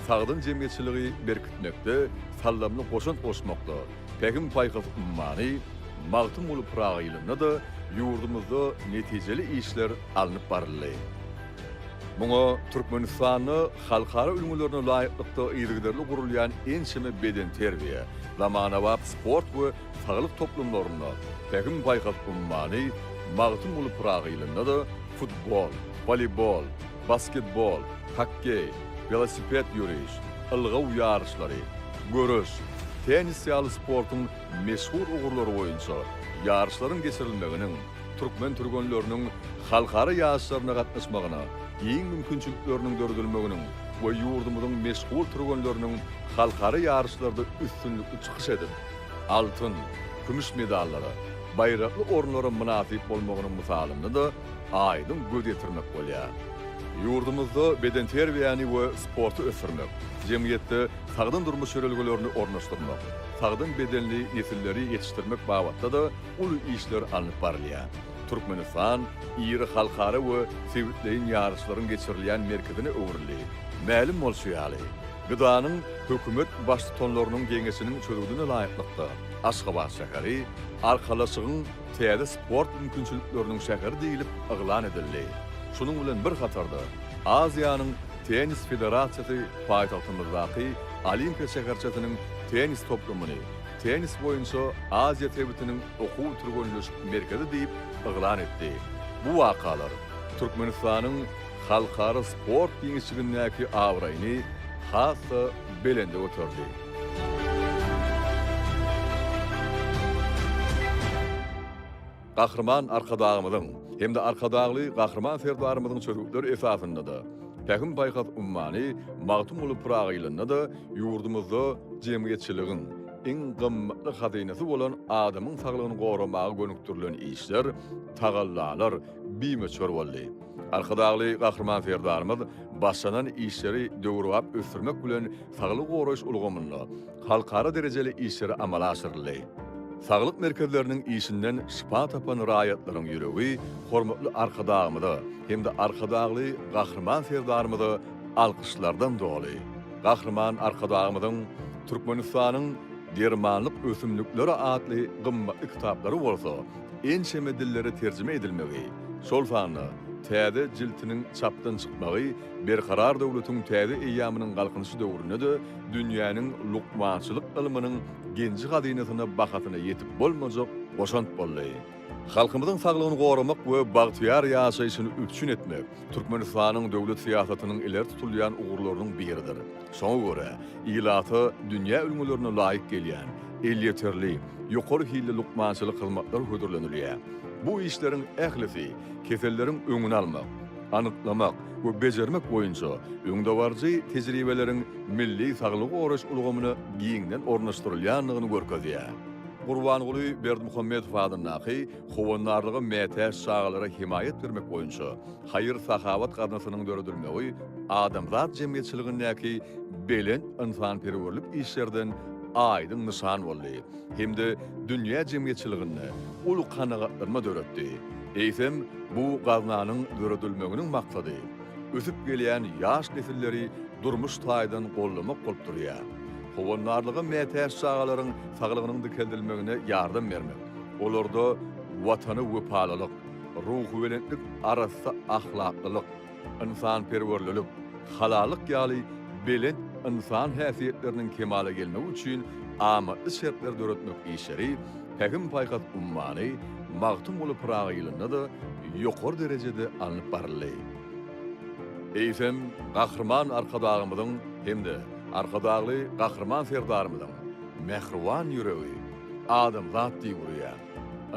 A: sagdyn jemgyýetçiligi berkitmekde saldamly goşant goşmakda, Pähim-paýhas ummany Magtymguly Pyragy ýylynda-da ýurdumyzda netijeli işler alnyp baryldy. Muňa Türkmenistanda halkara ülňülerine laýyklykda yzygiderli gurulýan ençeme bedenterbiýe, zamanabap sport we saglyk toplumlarynda, Pähim-paýhas ummany Magtymguly Pyragy ýylynda-da futbol, woleýbol, basketbol, hokkeý, welosiped ýöriş, ylgaw ýaryşlary, göreş, tennis ýaly sportuň meşhur ugurlary boýunça ýaryşlaryň geçirilmeginiň türkmen türgenleriniň halkara ýaryşlaryna gatnaşmagyna giň mümkinçilikleriniň döredilmeginiň we ýurdumyzyň meşhur türgenleriniň halkara ýaryşlarda üstünlikli çykyş edip, altyn, kümüş medallara, baýrakly orunlara mynasyp bolmagynyň mysalynda-da aýdyň göz ýetirmek bolýar. Ýurdumyzda bedenterbiýäni we sporty ösdürmek, jemgyýetde sagdyn durmuş ýörelgelerini ornaşdyrmak, sagdyn bedenli nesilleri ýetişdirmek babatda-da uly işler alnyp barylýar. Türkmenistan iri halkara we sebitleýin ýaryşlaryň geçirilýän merkezine öwrüldi. Mälim bolşy ýaly, GDA-nyň Hökümet Baştutanlarynyň Geňeşiniň çözgüdine laýyklykda, Aşgabat şäheri Arkalaşygyň täze sport mümkinçilikleriniň şäheri diýlip yglan edildi. Şunuň bilen bir hatarda, Aziýanyň Tennis federasiýasy paýtagtymyzdaky Olimpiýa şäherçesiniň tennis toplumyny Tennis boýunça Aziýa sebitiniň okuw-türgenleşik merkezi diýip yglan etdi. Bu wakalar Türkmenistanyň halkara sport giňişligindäki abraýyny has-da belende göterdi. Gahryman Arkadagymyzyň hem-de Arkadagly Gahryman Serdarymyzyň çözgütleri esasynda-da, Pähim-paýhas ummany Magtymguly Pyragy ýylynda-da ýurdumyzda jemgyýetçiligiň iň gymmatly hazynasy bolan adamyň saglygyny goramaga gönükdirilen işler, tagallalar bimöçber boldy. Arkadagly Gahryman Serdarymyz başlanan işleri döwrebap ösdürmek bilen saglygy goraýyş ulgamynda halkara derejeli işler amala aşyryldy. Saglyk merkezleriniň işinden şypa tapan raýatlaryň ýüregi hormatly Arkadagymyza hem-de Arkadagly Gahryman Serdarymyza alkyşlardan doly. Gahryman Arkadagymyzyň Türkmenistanyň dermanlyk ösümlikleri atly gymmatly kitaplary bolsa, ençeme dillere terjime edilmegi, şol sanda täze jiltiniň çapdan çykmagy Berkarar döwletiň täze eýýamynyň Galkynyşy döwründe-de dünýäniň lukmançylyk ylmynyň genji-hazynasyna bahasyna ýetip bolmajak goşant boldy. Halkymyzyň saglygyny goramak we bagtyýar ýaşaýşyny üpjün etmek Türkmenistanyň döwlet syýasatynyň ileri tutulýan ugurlarynyň biridir. Şoňa görä, ilata dünýä ülňülerine laýyk gelýän, elýeterli, ýokary hilli lukmançylyk hyzmatlar hödürlenilýär. Bu işleriň ählisi keselleriň öňüni almak, anyklamak we bejermek boýunça öňdebaryjy tejribeleriň milli saglygy goraýyş ulgamyna giňden ornaşdyrylýandygyny görkezýär. Gurbanguly Berdimuhamedow adyndaky Howandarlyga mätäç çagalara hemaýat bermek boýunça haýyr-sahawat gaznasynyň döredilmegi adamzat jemgyýetçiligindäki belent ynsanperwerlik işlerden aýdyň nyşan boldy hem-de dünýä jemgyýetçiliginde uly kanagatlanma döretdi. Eýsem, bu gaznanyň döredilmeginiň maksady ösüp gelýän ýaş nesilleri durmuş taýdan goldamak bolup durýar. Howandarlyga mätäç çagalaryň saglygynyň dikeldilmegine ýardam bermek. Olarda Watana wepalylyk, ruhubelentlik, arassa ahlaklylyk, ynsanperwerlilik, halallyk ýaly belent ynsan häsiýetleriniň kemala gelmegi üçin amatly şertleri döretmek işleri Pähim-paýhas ummany Magtymguly Pyragy ýylynda-da ýokary derejede alnyp baryldy. Eýsem, Gahryman Arkadagymyzyň hem-de Arkadagly Gahryman Serdarymyzyň mähriban ýüregi, Adamzat diýip urýar.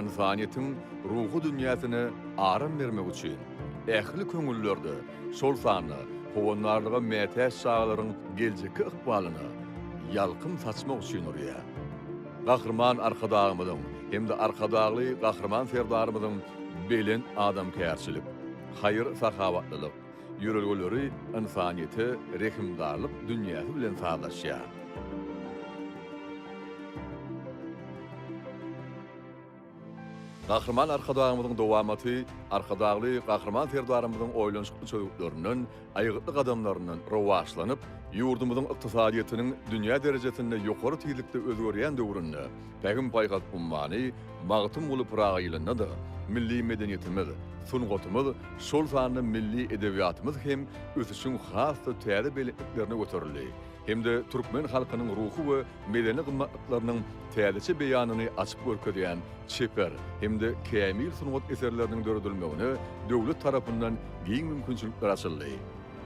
A: Ynsanyýetiň ruhy dünýäsine aram bermek üçin, ähli köňüllerde, şol sanda howandarlyga mätäç çagalaryň geljekki ykbalyna ýalkym saçmak üçin urýar. Gahryman Arkadagymyzyň hem-de Arkadagly Gahryman Serdarymyzyň belent adamkärçilik, haýyr-sahawatlylyk, Ýörelgeleri ynsanyýete rehimdarlyk dünýäsi bilen sazlaşýar. Gahryman Arkadagymyzyň dowamaty Arkadagly Gahryman Serdarymyzyň oýlanyşykly çözgütlerinden, aýgytly gadamlaryndan rowaçlanyp, ýurdumyzyň ykdysadyýetiniň dünýä derejesinde ýokary tizlikde özgerýän döwründe, Pähim paýhas ummany Magtymguly Pyragy ýylynda-da milli medeniýetimiz, sungatymyz, şol sanda milli edebiýatymyz hem ösüşiň has-da täze belentliklerine göterildi hem-de türkmen halkynyň ruhy we medeni gymmatlyklarynyň täzeçe beýanyny açyp görkezýän çeper hem-de kämil sungat eserleriniň döredilmegine döwlet tarapyndan giň mümkinçilikler açyldy.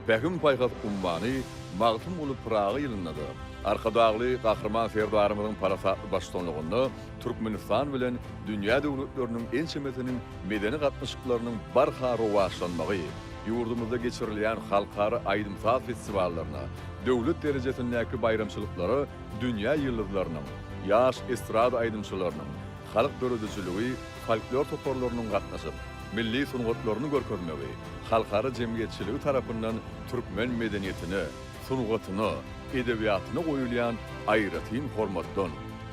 A: Pähim-paýhas ummany Magtymguly Pyragy ýylynda-da, Arkadagly Gahryman Serdarymyzyň parasatly baştutanlygynda Türkmenistan bilen dünýä döwletleriniň ençemesiniň medeni gatnaşyklarynyň barha rowaçlanmagy, ýurdumyzda geçirilýän halkara aýdym-saz festiwallaryna, döwlet derejesindäki baýramçylyklara dünýä ýyldyzlarynyň, ýaş estrada aýdymçylarynyň, halk döredijiligi, folklor toparlarynyň gatnaşyp, milli sungatlaryny görkezmegi halkara jemgyýetçiligi tarapyndan türkmen medeniýetine, sungatyna, edebiýatyna goýulýan aýratyn hormatdan,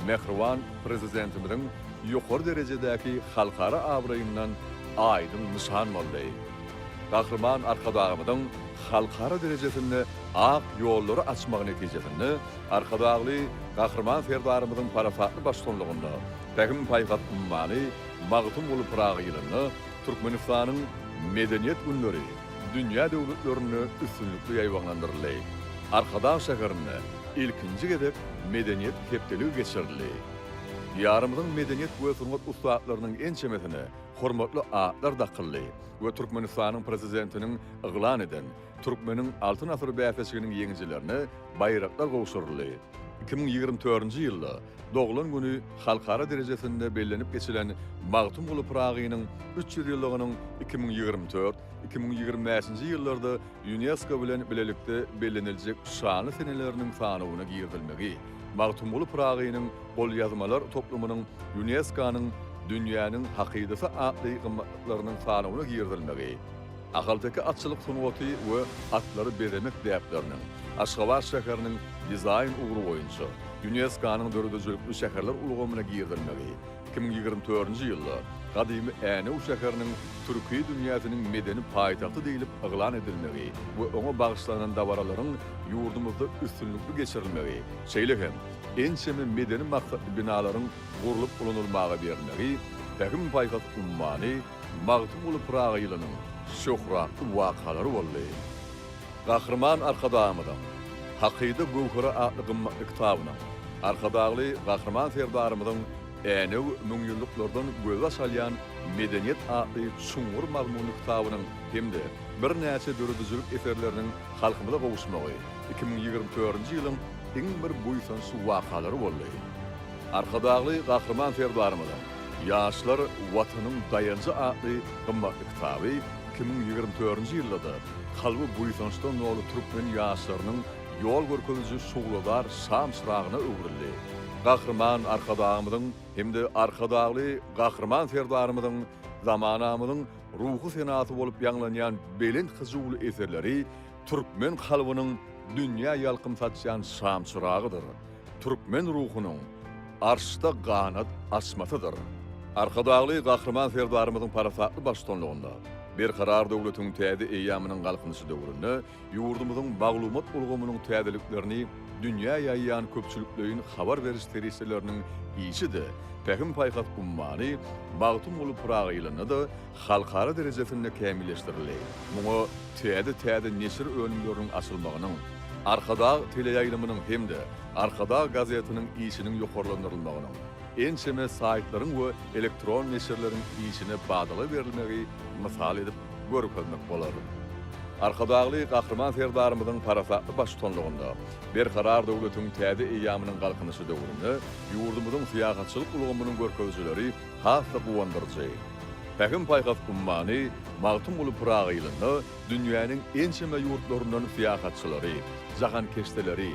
A: mähriban Prezidentimiziň ýokary derejedäki halkara abraýyndan aýdyň nyşan boldy. Gahryman Arkadagymyzyň halkara derejesinde ak ýollary açmagy netijesinde Arkadagly Gahryman Serdarymyzyň parasatly baştutanlygynda, Pähim paýhas ummany Magtymguly Pyragy ýylynda Türkmenistanyň Medeniýet günleri dünýä döwletlerinde üstünlikli ýaýbaňlandyryldy. Arkadag şäherinde ilkinji gezek Medeniýet hepdeligi geçirildi. Diýarymyzyň medeniýet we sungat ussatlarynyň ençemesine hormatly atlar dakyldy we Türkmenistanyň Prezidentiniň yglan eden Türkmeniň Altyn asyry bäsleşiginiň ýeňijilerine baýraklar gowşuryldy. Iki müň ýigrimi dördünji ýylda Doglan güni halkara derejesinde bellenip geçilen Magtymguly Pyragynyň üç ýüz ýyllygynyň iki müň ýigrimi dört, iki müň ýigrimi bäşinji ýyllarda Ýunesko bilen bilelikde belleniljek şanly seneleriniň sanawyna girizilmegi Magtymguly Pyragynyň golýazmalar toplumynyň Ýuneskonyň Dünýäniň hakydasy atly gymmatlyklarynyň sanawyna girizilmegi Ahalteke atçylyk sungaty we atlary bezemek däpleriniň Aşgabat şäheriniň dizaýn ugry boýunça Ýunesko-nyň döredijilikli şäherler ulgamyna girizilmegi iki müň ýigrimi dördünji ýylda gadymy Änew şäheriniň Türki dünýäsiniň medeni paýtagty diýlip yglan edilmegi we oňa bagyşlanan dabaralaryň ýurdumyzda üstünlikli geçirilmegi, şeýle hem ençeme medeni maksatly binalaryň gurlup ulanylmaga berlmegi Pähim-paýhas ummany, Magtym Guly Pyragy ýylynyň şöhratly wakalary boldy. Gahryman Arkadagymyzyň Hakyda göwheri atly gymmatly kitabynyň Arkadagly Gahryman Serdarymyzyň Änew müňýyllyklardan gözbaş alýan medeniýet atly çuňňur mazmunly kitabynyň hem-de birnäçe döredijilik eserleriniň halkymyza gowuşmagy iki müň ýigrimi törünji ýylyň iň bir buýsançly wakalary boldy. Arkadagly Gahryman Serdarymyzyň Ýaşlar, Watanyň daýanjy atly gymmatly kitaby iki müň ýigrimi dördünji ýylda-da kalby buýsançdan doly türkmen ýaşlarynyň ýol görkeziji şugladar şam-çyragyna öwrüldi. Gahryman Arkadagymyzyň hem-de Arkadagly Gahryman Serdarymyzyň zamanamyzyň ruhy senasy bolup ýaňlanýan belent hyjuwly eserleri türkmen kalbynyň dünýä ýalkym saçýan şam-çyragydyr. Türkmen ruhunyň Arşda ganat açmasydyr. Arkadagly Gahryman Serdarymyzyň parasatly baştutanlygynda Berkarar döwletiň täze eýýamynyň Galkynyşy döwründe ýurdumyzyň maglumat ulgamynyň täzeliklerini dünýä ýaýýan köpçülikleýin habar beriş serişdeleriniň işi-de Pähim-paýhas ummany Magtymguly Pyragy ýylynda-da halkara derejesinde kämilleşdirildi. Muňa täze-täze neşir önümleriniň açylmagynyň, Arkadag teleýaýlymynyň hem-de Arkadag gazetiniň işiniň ýokarlandyrylmagynyň, ençeme saýtlaryň we elektron neşirleriň işine badala berilmegi mysal edip görkezmek bolar. Arkadagly Gahryman Serdarymyzyň parasatly baştutanlygynda Berkarar döwletiň täze eýýamynyň Galkynyşy döwründe ýurdumyzyň syýahatçylyk ulgamynyň görkezijileri has-da guwandyryjy. Pähim-paýhas ummany Magtymguly Pyragy ýylynda dünýäniň ençeme ýurtlaryndan syýahatçylary, jahankeşdeleri,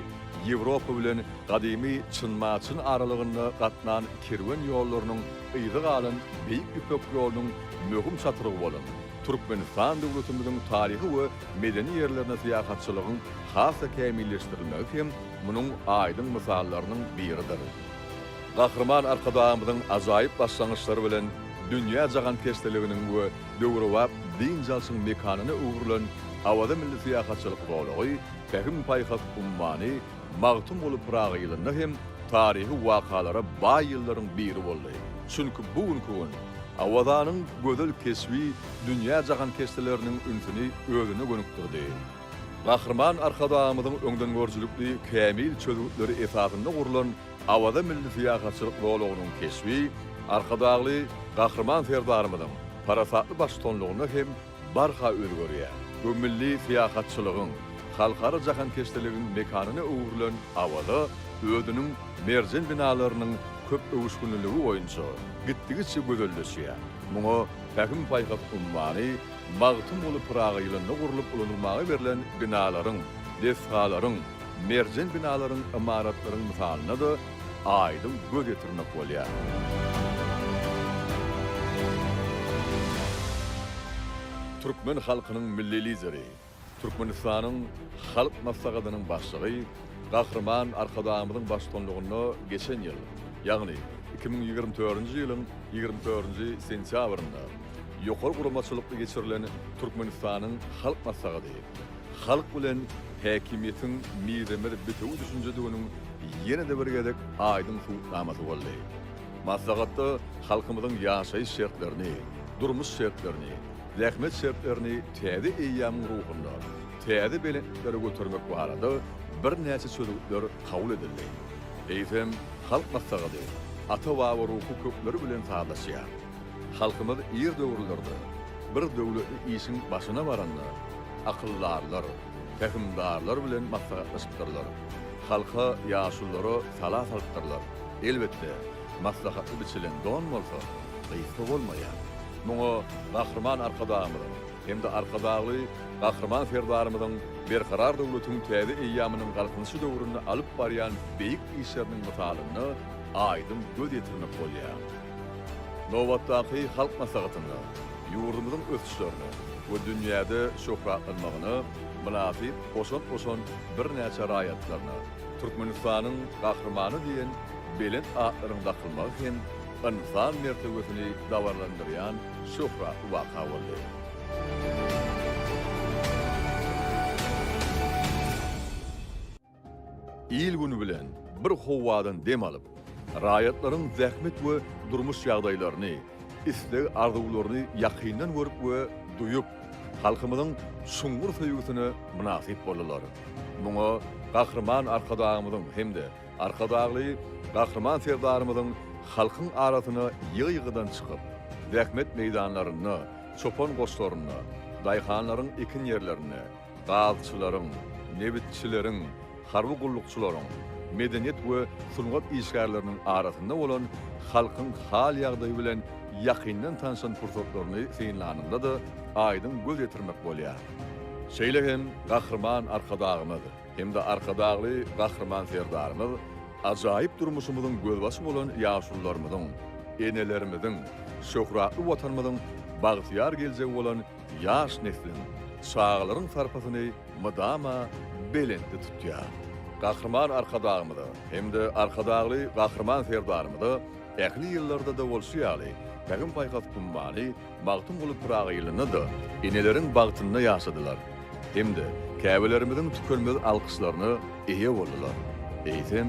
A: Ýewropa bilen gadymy Çyn-Maçyn aralygynda gatnan kerwen ýollarynyň yzy galan Beýik Ýüpek ýolunyň möhüm çatrygy bolan Türkmenistan döwletimiziň taryhy we medeni ýerlerine syýahatçylygyň has-da kämilleşdirilmegi hem munuň aýdyň mysallarynyň biridir. Gahryman Arkadagymyzyň ajaýyp başlangyçlary bilen dünýä jahankeşdeliginiň we döwrebap dynç alşyň mekanyna öwrülen Awaza milli syýahatçylyk zolagy Pähim-paýhas ummany Magtymguly Pyragy ýylynda hem taryhy wakalara baý ýyllaryň biri boldy. Çünki bu günki gün Awazanyň gözel keşbi dünýä jahankeşdeleriniň ünsüni özüne gönükdirdi. Gahryman Arkadagymyzyň öňdengörüjilikli kämil çözgütleri esasynda gurlan Awaza milli syýahatçylyk zolagynyň keşbi Arkadagly Gahryman Serdarymyzyň parasatly baştutanlygynda hem barha özgerýär. Bu milli syýahatçylygyň, halkara jahankeşdiligiň mekanyna öwrülen Awaza özüniň merjen binalarynyň köp öwüşginliligi boýunça gitdigiçe gözelleşýär. Muňa Pähim-paýhas ummany Magtymguly Pyragy ýylynda gurlup ulanylmaga berlen binalaryň, desgalaryň, Merjen binalaryň, ymaratlaryň mysalyna-da aýdyň göz ýetirmek bolýar. Türkmen halkynyň Milli Lideri, Türkmenistanyň Halk Maslahatynyň Başlygy Gahryman Arkadagymyzyň baştutanlygynda geçen ýyl, ýagny iki müň ýigrimi dördünji ýylyň ýigrimi dördünji sentýabrynda ýokary guramaçylykly geçirilen Türkmenistanyň Halk Maslahaty, halk bilen häkimiýetiň mizemez bitewi düşünjediginiň ýene-de bir gezek aýdyň subutnamasy boldy. Maslahatda halkymyzyň ýaşaýyş şertlerini, durmuş şertlerini, zähmet şertlerini täze eýýamyň ruhunda täze belentliklere götermek barada birnäçe çözgütler kabul edildi. Eýsem, Halk Maslahaty ata-baba ruhy kökleri bilen sazlaşýar. Halkymyz ir döwürlerde bir döwletli işiň başyna baranda, akyldarlar, pähimdarlar bilen maslahatlaşypdyrlar. Halka, ýaşulylara sala salypdyrlar. Elbetde, maslahatly biçilen don bolsa, gysga bolmaýar. Muňa Gahryman Arkadagymyzyň hem-de Arkadagly Gahryman Serdarymyzyň Berkarar döwletiň täze eýýamynyň Galkynyşy döwründe alyp barýan beýik işleriniň mysalynda aýdyň göz ýetirmek bolýar. Nobatdaky Halk Maslahatynda ýurdumyzyň ösüşlerine we dünýäde şöhratlanmagyna mynasyp goşant goşan birnäçe raýatlaryna Türkmenistanyň Gahrymany diýen belent atlaryň dakylmagy hem ynsan mertebesini dabaralandyrýan şöhratly waka boldy. Il-gün bilen bir howadan dem alyp, raýatlaryň zähmet we durmuş ýagdaýlaryny, isleg-arzuwlaryny ýakyndan görüp we duýup, halkymyzyň çuňňur söýgüsine mynasyp boldular. Muňa Gahryman Arkadagymyzyň hem-de Arkadagly Gahryman Serdarymyzyň halkyň arasyna ýygy-ýygydan çykyp, zähmet meýdanlarynda, çopan goşlarynda, daýhanlaryň ekin ýerlerinde, gazçylaryň, nebitçileriň, harby gullukçylaryň, medeniýet we sungat işgärleriniň arasynda bolan halkyň hal-ýagdaýy bilen ýakyndan tanşan pursatlaryny synlanyňda-da aýdyň göz ýetirmek bolýar. Şeýle hem Gahryman Arkadagymyz hem-de Arkadagly Gahryman Serdarymyz ajaýyp durmuşymyzyň gözbaşy bolan ýaşulularymyzyň, enelerimiziň, şöhratly Watanymyzyň bagtyýar geljegi bolan Ýaş nesliň, çagalaryň sarpasyny mydama belentde tutýar. Gahryman Arkadagymyza hem-de Arkadagly Gahryman Serdarymyza ähli ýyllarda-da bolşy ýaly, Pähim-paýhas ummany Magtymguly Pyragy ýylynda-da eneleriň bagtynda ýaşadylar hem-de käbelerimiziň tükenmez alkyşlaryna eýe boldular. Eýsem,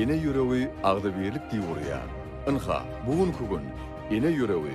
A: ene ýüregi agzybirlik diýip urýar. Ynha, bu günki gün ene ýüregi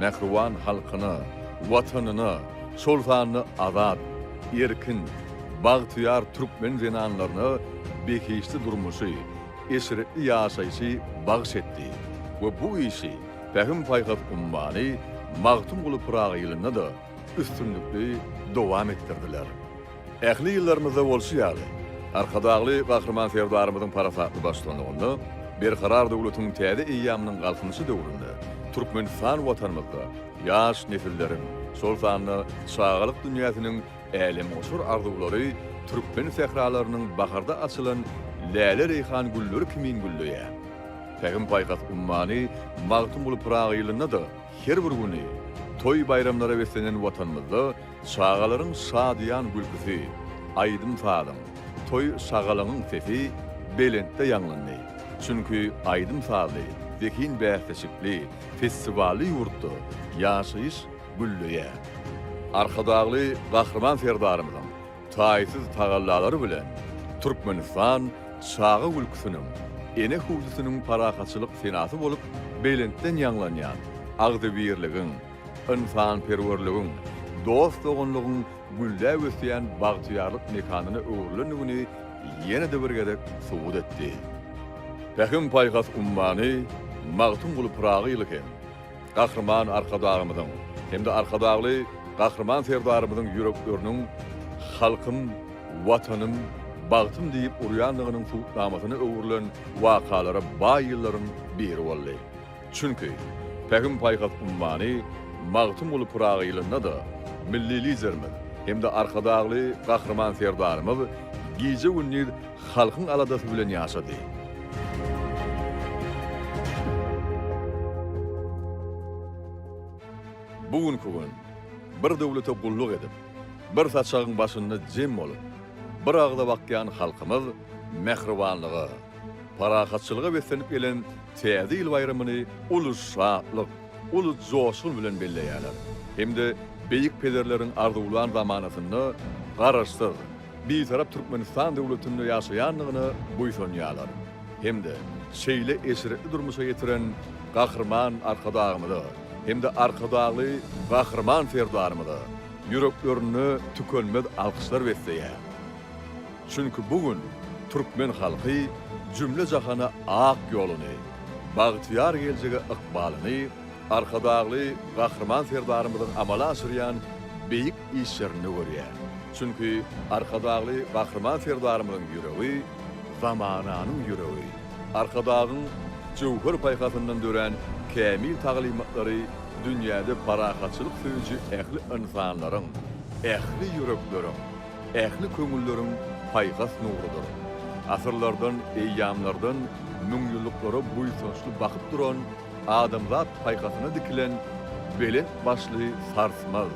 A: Mähriban halkyna, Watanyna, şol sanda azat, erkin, bagtyýar türkmen zenanlaryna behişdi durmuşy, eşretli ýaşaýşy bagyş etdi we bu işi Pähim-paýhas ummany Magtymguly Pyragy ýylynda-da üstünlikli dowam etdirdiler. Ähli ýyllarymyzda bolşy ýaly, Arkadagly Gahryman Serdarymyzyň parasatly baştuanlygynda Berkarar döwletiň täze eýýamynyň Galkynyşy döwründe Türkmenistan Watanymyzda ýaş nesilleriň, şol sanda çagalyk dünýäsiniň älemgoşar arzuwlary türkmen sähralarynyň baharda açylan läle-reýhan gülleri kimin gülleýär. Pähim-paýhas ummany Magtymguly Pyragy ýylynda-da her bir güni toý-baýramlara beslenen Watanymyzda Çagalaryň şadyýan gülküsi, aýdym-sazyň, toý-şagalaňyň sesi belentde ýaňlandy. Çünki aýdym-sazly, zehin bäsleşikli, festiwally ýurtda ýaşaýyş gülleýär. Arkadagly Gahryman Serdarymyzyň taýsyz tagallalary bilen Türkmenistan çaga gülküsiniň, ene hüwdüsiniň parahatçylyk senasy bolup belentden ýaňlanýan agzybirligiň, ynsanperwerligiň, dost-doganlygyň gülläp ösýän bagtyýarlyk mekanyna öwrülendigini ýene-de bir gezek subut etdi. Pähim-paýhas ummany Magtymguly Pyragy ýyly hem Gahryman Arkadagymyzyň hem-de Arkadagly Gahryman Serdarymyzyň ýürekleriniň Halkym, Watanym, bagtym diýip urýandygynyň subutnamasyna öwrülen wakalara baý ýyllaryň biri boldy. Çünki, Pähim-paýhas ummany Magtymguly Pyragy ýylynda-da Milli Liderimiz hem-de Arkadagly Gahryman Serdarymyz gije-gündiz halkyň aladasy bilen ýaşady. Bu günki gün bir döwlete gulluk edip, bir saçagyň başynda jem bolup, bir agza bakýan halkymyz mähribanlyga, Parahatçylyga beslenip gelen Täze ýyl baýramyny uly şatlyk, uly joşgun bilen belleýärler hem-de beýik pederleriň arzuwlan zamanasynda Garaşsyz, Bitarap Türkmenistan döwletinde ýaşaýandygyna buýsanýarlar hem-de şeýle eşretli durmuşa ýetiren Gahryman Arkadagymyza hem-de Arkadagly Gahryman Serdarymyza ýüreklerinde tükenmez alkyşlar besleýär. Çünki bu gün türkmen halky jümle jahana ak ýoluny, bagtyýar geljege ykbalyny Arkadagly Gahryman Serdarymyzyň amala aşyrýan beýik işlerinde görýär. Çünki Arkadagly Gahryman Serdarymyzyň ýüregi, zamananyň ýüregi, Arkadagyň jöwher paýhasyndan dörän kämil taglymatlary dünýäde parahatçylyk söýüji ähli ynsanlaryň, ähli ýürekleriň, Ähli köňülleriň paýhas nurudyr. Asyrlardan, eýýamlardan müňýyllyklara buýsançly bakyp duran, adamzat paýhasyna dikilen belent başly sarsmaz,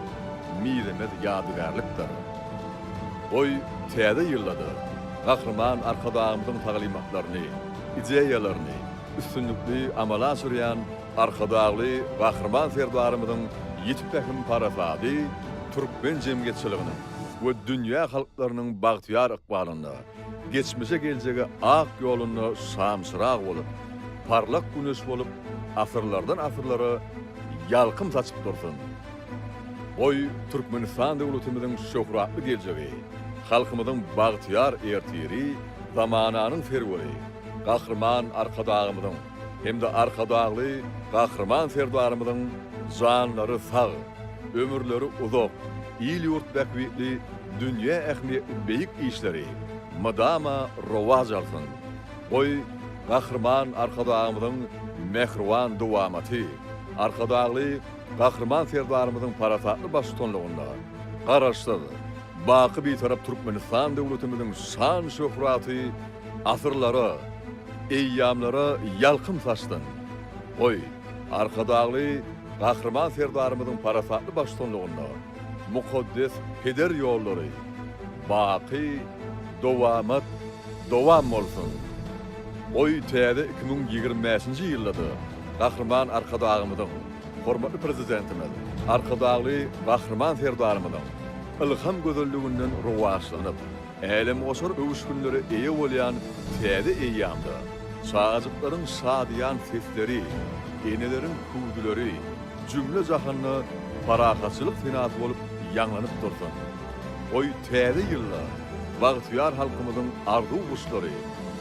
A: mizemez ýadygärlikdir. Goý, Täze ýylda-da Gahryman Arkadagymyzyň taglymatlaryny, ideýalaryny üstünlikli amala aşyrýan Arkadagly Gahryman Serdarymyzyň ýiti pähim-parasady türkmen jemgyýetçiliginiň we dünýä halklarynyň bagtyýar ykbalynda, geçmişe-geljege ak ýolunda şamçyrag bolup, parlak güneş bolup asyrlardan asyrlara ýalkym saçyp dursun! Goý, Türkmenistan döwletimiziň şöhratly geljegi, halkymyzyň bagtyýar ertiri zamananyň serweri Gahryman Arkadagymyzyň, hem-de Arkadagly Gahryman Serdarymyzyň janlary sag, ömürleri uzak, il-ýurt bähbitli dünýä ähmiýetli beýik işleri mydama rowaç alsyn! Goý, Gahryman Arkadagymyzyň mähriban dowamaty Arkadagly Gahryman Serdarymyzyň parasatly baştutanlygynda Garaşsyz, baky Bitarap Türkmenistan döwletimiziň şan-şöhraty Asyrlara, eýýamlara ýalkym saçdyn. Goý, Arkadagly Gahryman Serdarymyzyň parasatly baştutanlygynda mukaddes peder ýollary baky dowamat dowam bolsun! Goý, täze iki müň ýigrimi bäşinji ýylda-da Gahryman Arkadagymyzyň, hormatly Prezidentimiz Arkadagly Gahryman Serdarymyzyň ylham gözelliginden rowaçlanyp, Älemgoşar öwüşginlere eýe bolýan täze eýýamda çagajyklaryň şadyýan sesleri, eneleriň küwzüleri jümle-jahanda parahatçylyk senasy bolup ýaňlanyp dursun! Goý, Täze ýylda bagtyýar halkymyzyň arzuw guşlary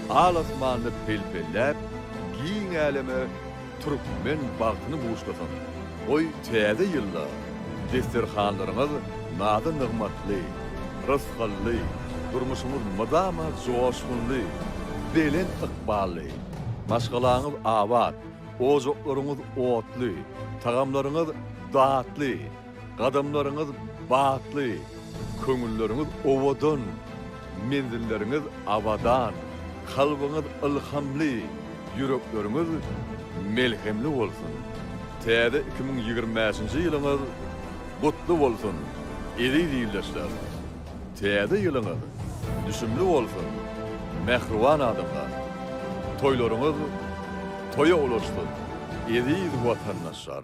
A: al-asmanda pelpelläp, giň äleme Türkmen bagtyny buşlasyn! Goý, Täze ýylda desterhanlaryňyz nazy-nygmatly, rysgally, durmuşyňyz mydama joşgunly, belent ykbally, maşgalaňyz abat, ojaklaryňyz otly, tagamlaryňyz datly, Gadamlaryňyz batly, köňülleriňiz owadan, menzilleriňiz abadan, kalbyňyz ylhamly, ýürekleriňiz melhemli bolsun! Täze iki müň ýigrimi bäşinji ýylyňyz gutly bolsun, eziz ildeşler! Täze ýylyňyz düşümli bolsun, mähriban adamlar! Toýlaryňyz toýa ulaşsyn, eziz watandaşlar!